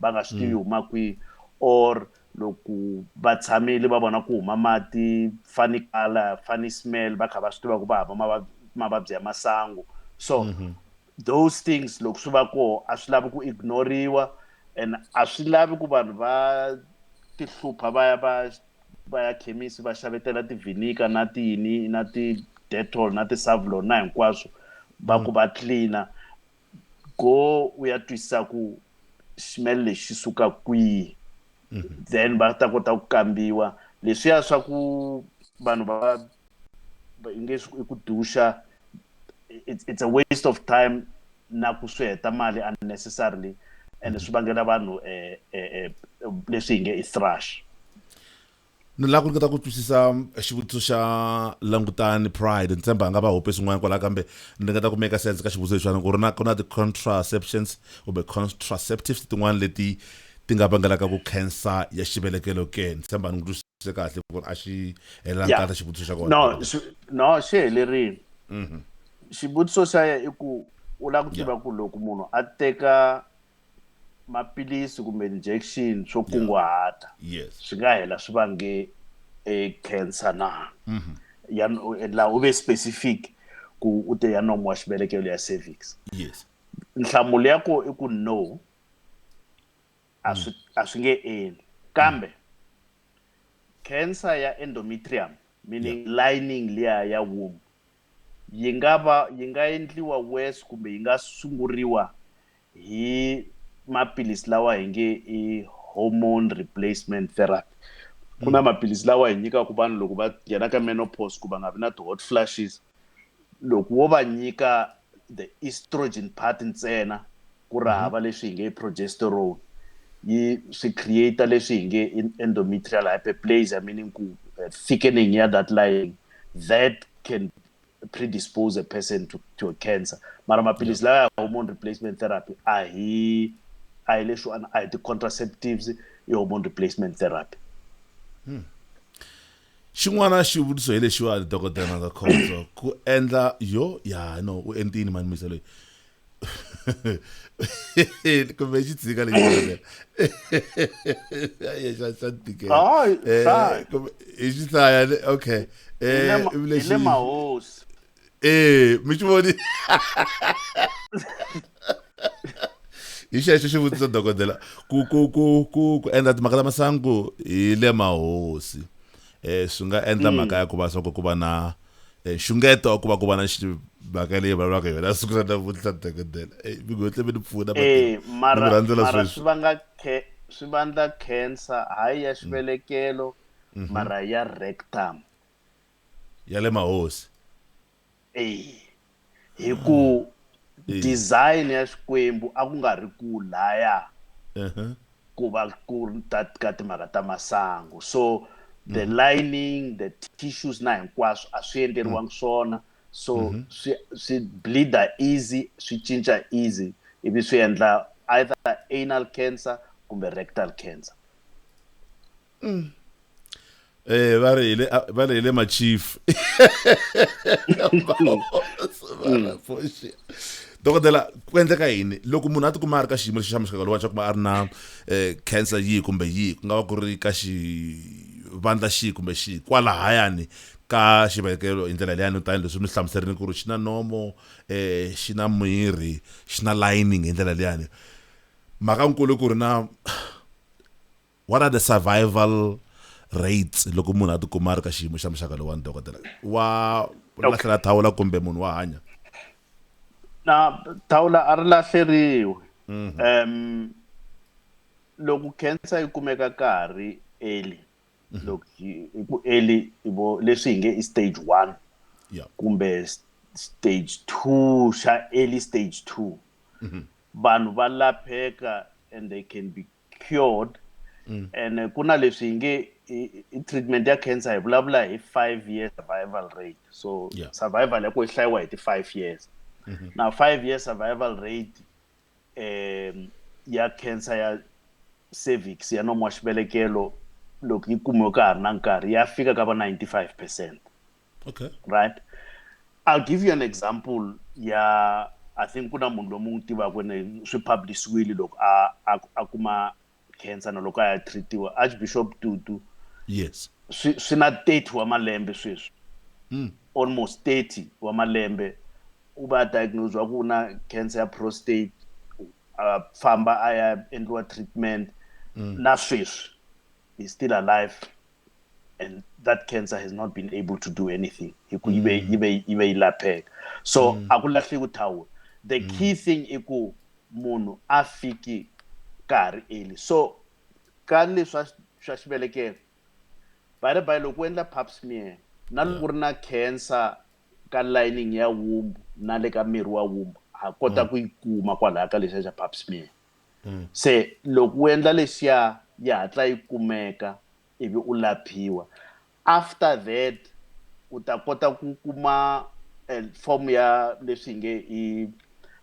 va nga swi tivi mm. huma kwihi or loko va tshamile va vona ku huma mati funny color funny smell va kha va swi tiva ku va hava mavabyi ya masangu so mm -hmm. those things loko swi va koho a swi lavi ku ignoriwa and a swi lavi ku vanhu va tihlupha va ya va va ya khemisi va xavetela tivinika na tiyini na ti-detol na ti-savlon na hinkwaswo va ku va cleaner go u ya twisisa ku ximelo lexi xi suka kwihi mhm. then va ta kota ku kambiwa leswiya swa ku vanhu va i nge i ku duxa it's a waste of time na ku swi heta mali unnecessarily and swi vangela vanhu eh, eh, eh, leswi hi nge i thrush Ni lava ku ringeta ku twisisa xivutiso xa langutani pride ni tshemba a nga va hope swin'wana kwalaho kambe ni ringeta ku meka sense ka xivutiso lexiwana ku ri na ku na ti-contraceptions kumbe contraceptives tin'wana leti ti nga vangelaka ku cancer ya xivelekelo ke ni tshemba ni n'wi twisise kahle ku ri a xi helelangi kahle xivutiso xa kona no no xi helerile mhm. xivutiso xa ye i ku u lava ku tiva ku loko munhu a teka maphilisi kumbe injection swo kunguhata yes swi nga hela swi vange e cancer na mhm. ya la u ve specific ku u te ya nomo wa xivelekelo ya cervix yes nhlamulo ya ko i ku no a swi mm. a swi nge endli kambe mm. cancer ya endometrium meaning lining liya ya womb yi nga va yi nga endliwa worse kumbe yi nga sunguriwa hi maphilisi lawa hi nge i hormone replacement therapy ku na maphilisi lawa hi nyikaka vanhu loko va nghena ka menopause ku va nga vi na ti-hot flashes loko wo va nyika the estrogen part ntsena ku ri hava leswi hi nge progesterone yi swi create leswi hi nge endometrial hyperplasia meaning ku eh, thickening ya that line that can predispose a person to, to a cancer mara maphilisi lawa ya hormone replacement therapy a hi a hi leswiwani a hi ti-contraceptives i hormone replacement therapy hmm. xin'wana xivutiso hi lexiwani dokodela na nga khondzo ku endla yo ya no u entini mani misa loyi kumbe xi tshika lexi xa xa tikela eh, hi xi hlaya okay eh, hi le mahosi ee mi tshi voni hi xexo xi vutisa dokodela ku ku ku ku ku endla timhaka ta masangu hi le mahosi um swi nga endla hmm. mhaka ya ku va swa ku ku va na eh, nxungeto wa ku va ku va na mhaka leyi vulavulaka yona siku ra namuntlha dokodela eh, mi ngotle mi ni pfuna rhandzela sweswi swi vandla cancer hayi ya hmm. xivelekelo hmm. mara ya rectum ya le mahosi eyi hi ku Eyi. design ya xikwembu a ku nga ri ku laya Ehe. ku va ku ri ta ka timhaka ta masangu so the lining the tissues na hinkwaswo a swi endleriwangi swona so swi swi bleeda easy swi cinca easy ivi swi endla either anal cancer kumbe rectal cancer mm. eh ba re ile ba re ile ma chief dokodela ku endleka yini loko munhu a tikuma a ri ka xiyimo lexi xa muxaka lowa xa kuma a ri na eh, cancer yihi kumbe yihi ku nga va ku ri ka xivandla xihi kumbe xihi kwalahayani ka xivekelo hi ndlela leyani tanihi leswi mi hlamuserini ku ri xi na nomo um xi na miri xi na lining hi ndlela leyani mhaka nkulu ku ri na What are the survival rates loko munhu a tikuma a ri ka xiyimo xa muxaka lowani dokodela wa lahlela thawula kumbe munhu wa hanya na thawula a ri lahleriwi um mhm. loko cancer yi kumeka ka ha ri early mhm. loko hi ku early vo leswi hi nge i stage one kumbe stage two xa early stage two mhm. vanhu va lapheka and they can be cured mm. and eh, ku na leswi hi nge treatment ya cancer hi vulavula hi five year survival rate so yeah. survival ya ku yi hlayiwa hi ti-five years mm -hmm. na five year survival rate um ya cancer ya cervix ya nomo wa xibelekelo loko yi kumiwe ka ha ri na nkarhi ya fika ka va 95 percent okay right i'll give you an example ya i think ku na munhu lomu n'wi tivaka ne swi publishwile loko a a kuma cancer na loko a ya treatiwa archbishop tutu yes swi swi na 30 wa malembe sweswi mm. almost 30 wa malembe u va diagnosed wa ku na cancer ya prostate a famba a ya endliwa treatment mm. na sweswi he's still alive and that cancer has not been able to do anything so mm. akulahleki uthawula the mm. key thing i ku munhu a fiki ka ha ri eli so ka leswa swa xivelekelo by the by loko u endla pap smear na loko ri na cancer ka lining ya wumbu na le ka miri wa wumbu ha kota mm. ku yi kuma kwalaya ka lexiya xa pap smear mm. se loko u endla lexiya yi hatla yi kumeka ivi u laphiwa after that u ta kota ku kuma eh, form ya leswi nge i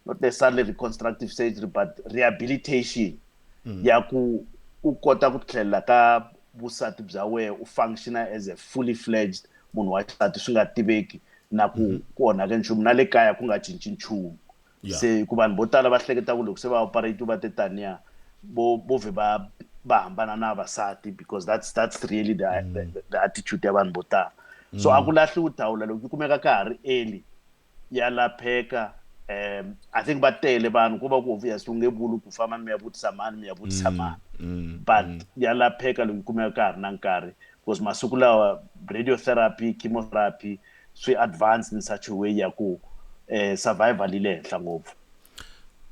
not necessarily reconstructive surgery but rehabilitation mm. ya ku u kota ku tlhelela ka vusati bya wena u functiona as a fully fledged munhu wa xisati swi nga tiveki na ku mm-hmm. ku onhake nchumu na le kaya ku nga cinci nchumu yeah. se ku vanhu vo tala va hleketa ku loko se va operate va te taniya vo vo vhe va va hambana na vasati because that's that's really the, mm. the, the attitude ya vanhu vo tala mm. so a ku lahliwi thawula loko yi kumeka ka ha ri eli ya lapheka um i think va tele vanhu ko va ku obvious u nge vuli ku famba mi ya vutisa mani mi ya vutisa mm, mani mm, but mm. ya lapheka loko yi kumeka ka ha ri na nkarhi because masiku lawa radiotherapy chemotherapy swi advanced in such a way ya ku eh, survival yi le henhla ngopfu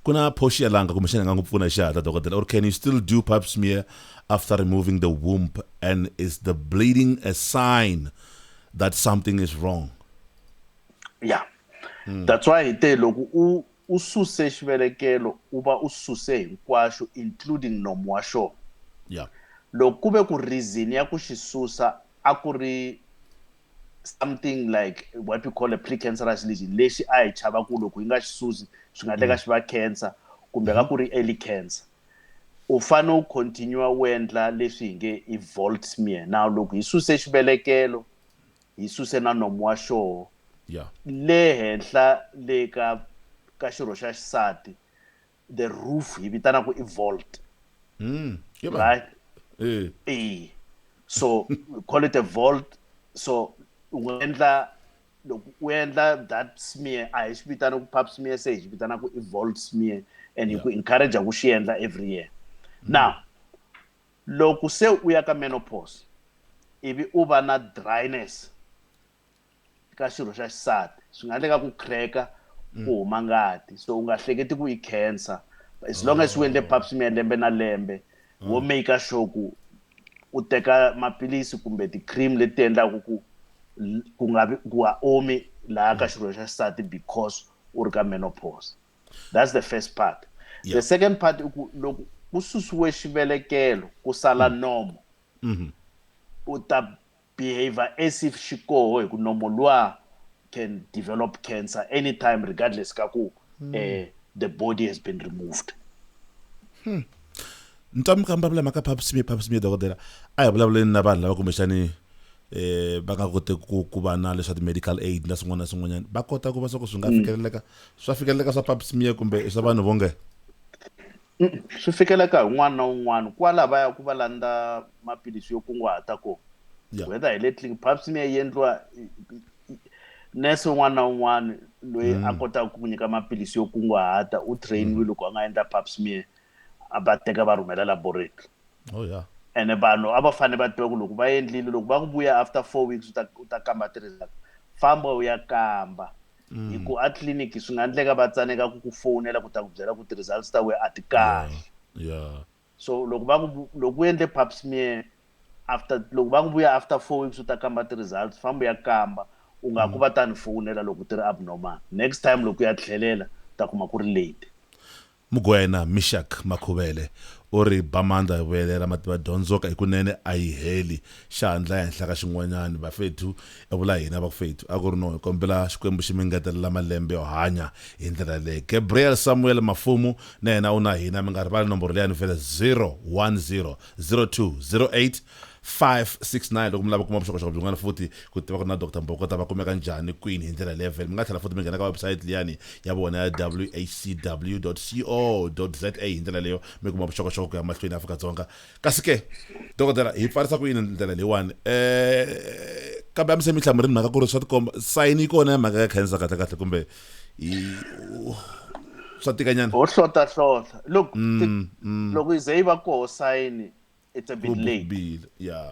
ku na phoxi ya langa kumbexana nga n'wi pfuna xihatla dokodela or can you still do pap smear after removing the womb and is the bleeding a sign that something is wrong yeah mm. that's why te loko u u suse xivelekelo u va u suse hinkwaxo including nomu wa xona yeah loko ku ve ku reason ya ku xi susa a ku ri something like what we call a precancerous lesion lexi a hi chava ku loko yi nga xi susi swi nga teka mm. xi va cancer kumbe ka mm-hmm. ku ri early cancer u fane u continue u endla leswi hi nge i volt smear now loko hi suse xivelekelo hi suse na nomu wa xoho le henhla le ka ka xirho xa xisati the roof hi vitana ku i vault mm. yeah, right eh hey. so we call it a vault so u endla loko u endla that smear a hi swi vitana ku pap smear se hi swi vitana ku i vault smear and hi ku encourage ku xi endla every year mm. now loko se u ya ka menopause ivi u va na dryness ka xirho xa xisati swi nga endleka ku crack mm. ku huma ngati so u nga hleketi ku i cancer as long as u endle oh. pap smear lembe na lembe mm. wo make sure ku u teka maphilisi kumbe ti-cream leti endlaku ku ku nga vi ku ha omi laha ka mm. xirho xa xisati because u ri ka menopause that's the first part yeah. the second part i ku loko ku susiwe xivelekelo ku sala nomo mm-hmm. u ta Behavior as if xikoho hi ku nomo luwa can develop cancer anytime regardless ka ku hmm. eh, the body has been removed hmm. nitwa mi kamba vula mhaka phapusimie phapusimie dokodela a hi vulavuleni na vanhu lava kumbexani eh va nga kote ku ku va na leswa ti-medical aid na swin'wana na swin'wanyana va kota ku va swa ku swi nga hmm. fikeleleka swa fikeleleka swa phapusimie kumbe i swa vanhu vonge Swi fikeleka hi un'wana na un'wana kwala va ya ku va landza maphilisi yo kunguhata kona whether hi le tliliniki pap smear yi endliwa nurse un'wana na un'wana loyi a mm. kotaka ku nyika maphilisi yo kunguhata u trainiwe mm. loko a nga endla pap smear a va teka va rhumela laboratory oh yeah ene vanhu a va fanele va tiva ku loko va endlile loko va ku vuya after four weeks u ta u ta kamba ti-result famba u ya kamba mm. hi ku a tliliniki swi nga endleka va tsaneka ku ku fowunela ku ta ku byela ku ti-results ta wena a ti kahle yeah. so loko va ku loko u endle pap smear after loko va ku vuya after four weeks u ta kamba ti-results famba u ya kamba u nga ku mm. va ta ni fowunela loko ti ri abnormal next time loko u ya tlhelela u ta kuma ku ri late Mogoena Mishak Makhuvele u ri, Bamandla yo vuyelera Mativa Dyondzoka hikunene a yi heli, xa ha ndlaya henhla ka xin'wanyana. Bafethu, i vula hina vakufethu, a ku ri no, hi kombela Xikwembu xi mi ngetelela malembe yo hanya hi ndlela yaleyo. Gabriel Samuel Mafumu na yena u na hina, mi nga rivali nomboro leyi ya ni vele, 010 02 08 569 loko mi lava kuma vuxokoxoko byin'wana futhi ku tiva ku ri na dr mbokota va kumeka njhani kwini hi ndlela leyi vhele mi nga tlhela futhi mi nghena ka website liyani ya vona ya whcw co za hi ndlela leyo mi kuma vuxokoxoko ku ya mahlweni afrika dzonga kasi ke dokodela hi pfarisa ku yini ndlela leyiwani um kambe a mi se mi hlamurini mhaka ku ri swa tikomba sayini yi kona ya mhaka ya cancer kahle kahle kumbe swa tikanyana ho hlota hlota loko mm, mm. loko yi ze yi va koho sayini it's a bit late bill yeah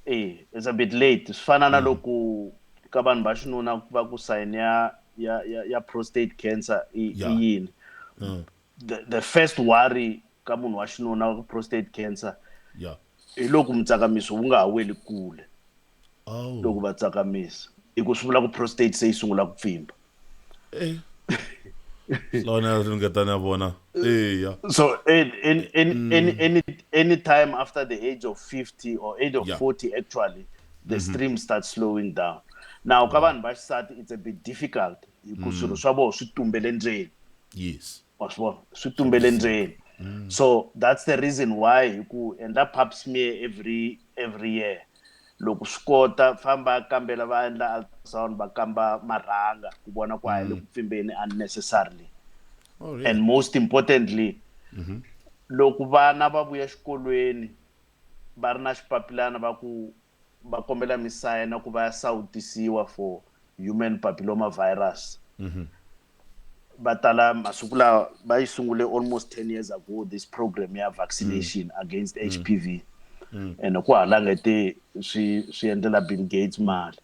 eh it's a bit late swi fana na mm. loko ka vanhu va xinuna va ku sign ya ya ya, ya prostate cancer i yeah. yini mm. the, the first worry ka munhu wa xinuna wa prostate cancer yeah hi loko mutsakamiso wu nga ha weli kule oh. loko va tsakamisa hi ku swi vula ku prostate se yi sungula ku pfimba lona ri nga ta na vona eya so in, in, in, mm. any, any, any time after the age of 50 or age of yeah. 40 actually the mm -hmm. stream starts slowing down now ka vanhu va xisati it's a bit difficult hikuva mm. swilo swa vona swi tumbele ndzeni yes wa swi vona swi tumbele ndzeni mm. so that's the reason why hi ku endla pap smear every every year loko swi kota famba kambela va endla ultrasound va kamba marhanga ku vona ku a hi le mm. ku pfimbeni unnecessarily oh, really? and most importantly mm -hmm. loko vana va vuya xikolweni va ri na xipapilana va ku va kombela misayina ku va ya sawutisiwa for human papilloma virus mm -hmm. va tala masiku lawa va yi sungule almost 10 years ago this program ya vaccination mm. against mm. hpv mm. and ku halangete swi swi endlela bill gates mali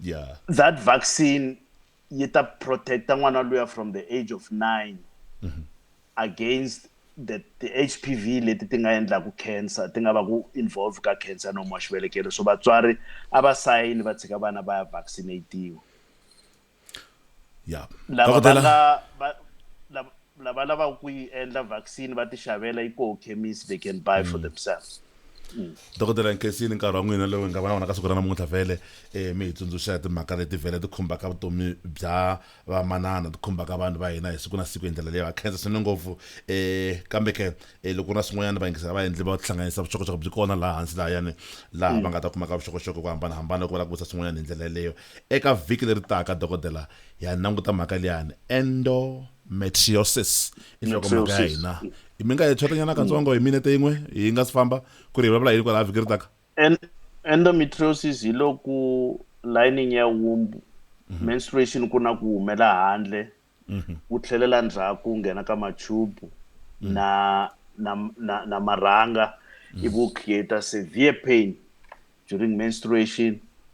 yeah that vaccine yi ta protecta n'wana luya from the age of 9 mm -hmm. against the ti-hpv leti ti nga endlaku cancer ti nga va ku involve ka cancer nomu wa xivelekelo so vatswari a va sayini va tshika vana va ya vaccinatiwa ya lava va nga lava lavaka ku yi endla vaccine va ti xavela yi koho chemist they can buy for mm. themselves mm. dokodela nkesini nkarhi wa n'wina lowu hi nga va na wona ka siku ra namuntlha vhele um mi hi tsundzuxa timhaka leti vhele ti khumbaka vutomi bya Vamanana, ti khumbaka vanhu va hina hi siku na siku hi ndlela leyi. Va khensa swinene ngopfu. E, kambe ke, e, loko ku ri na swin'wanyana vayingiseri a va endli va tihlanganisa vuxokoxoko byi kona laha hansi lahayani, laha va nga ta kumaka vuxokoxoko hi ku hambanahambana loko va lava ku vutisa swin'wanyana hi ndlela yeleyo. Eka vhiki leri taka, dokodela, hi ya languta mhaka liyani, endometriosis. I nhlokomhaka ya Metriosis. hina. Mi nga hi tshotenyana katsongo hi minete yin'we yi nga si famba, ku ri hi vulavula hi yini kwalaha vhiki ri taka? And endometriosis hi loku lining ya womb mm -hmm. menstruation ku na ku humela handle mm -hmm. ku tlhelela ndzhaku nghena ka machubu mm -hmm. na na na, na marhanga mm -hmm. iku create severe pain during menstruation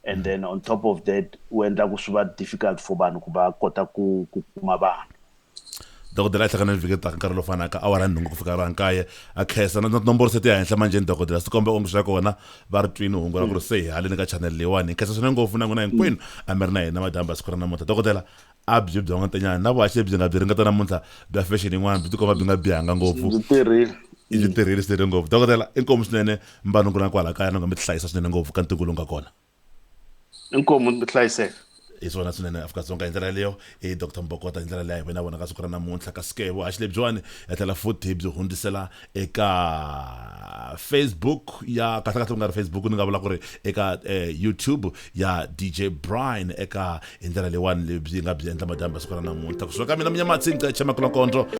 and mm -hmm. then on top of that u endla ku swi va difficult for vanhu ku va kota ku ku kuma vana dokodela a hlangana ni vhiki taka nkarhi lowu fanaka awara nhungu ku fika ra nkaye a khensa na tinomboro se ti ya henhla manjheni dokodela swi kombe onge swa kona va ri twini hungu ra ku ri se hi haleni ka chanele leyiwani hi khensa swinene ngopfu na n'wina hinkwenu a mi ri na hina madyambu ya siku ra namuntlha dokodela a byi bya n'wantenyana na vuhaxi lebyi nga byi ringeta namuntlha bya fashion yin'wana byi tikomba byi nga bihanga ngopfu i byi tirhile swinene ngopfu dokodela inkomu swinene mbanungu na kwala kaya na nga mi tihlayisa swinene ngopfu ka ntungu lowu nga kona inkomu mi hlayiseka hi swona swinene afrika-dzonga hi ndlela yaleyo i dr mbokota hi ndlela leya hi vena vona ka siku ra namuntlha kasi ke vuhaxi lebyiwani ya tlhela futhi hi byi hundzisela eka facebook ya kahlekahle ku nga ri facebook ni nga vula ku ri eka eh, youtube ya dj brine eka hi ndlela leyiwani lebyi nga byi endla madyambi ya siku ra namuntlha kusuka ka mina minyamatsi nceche makulakondlo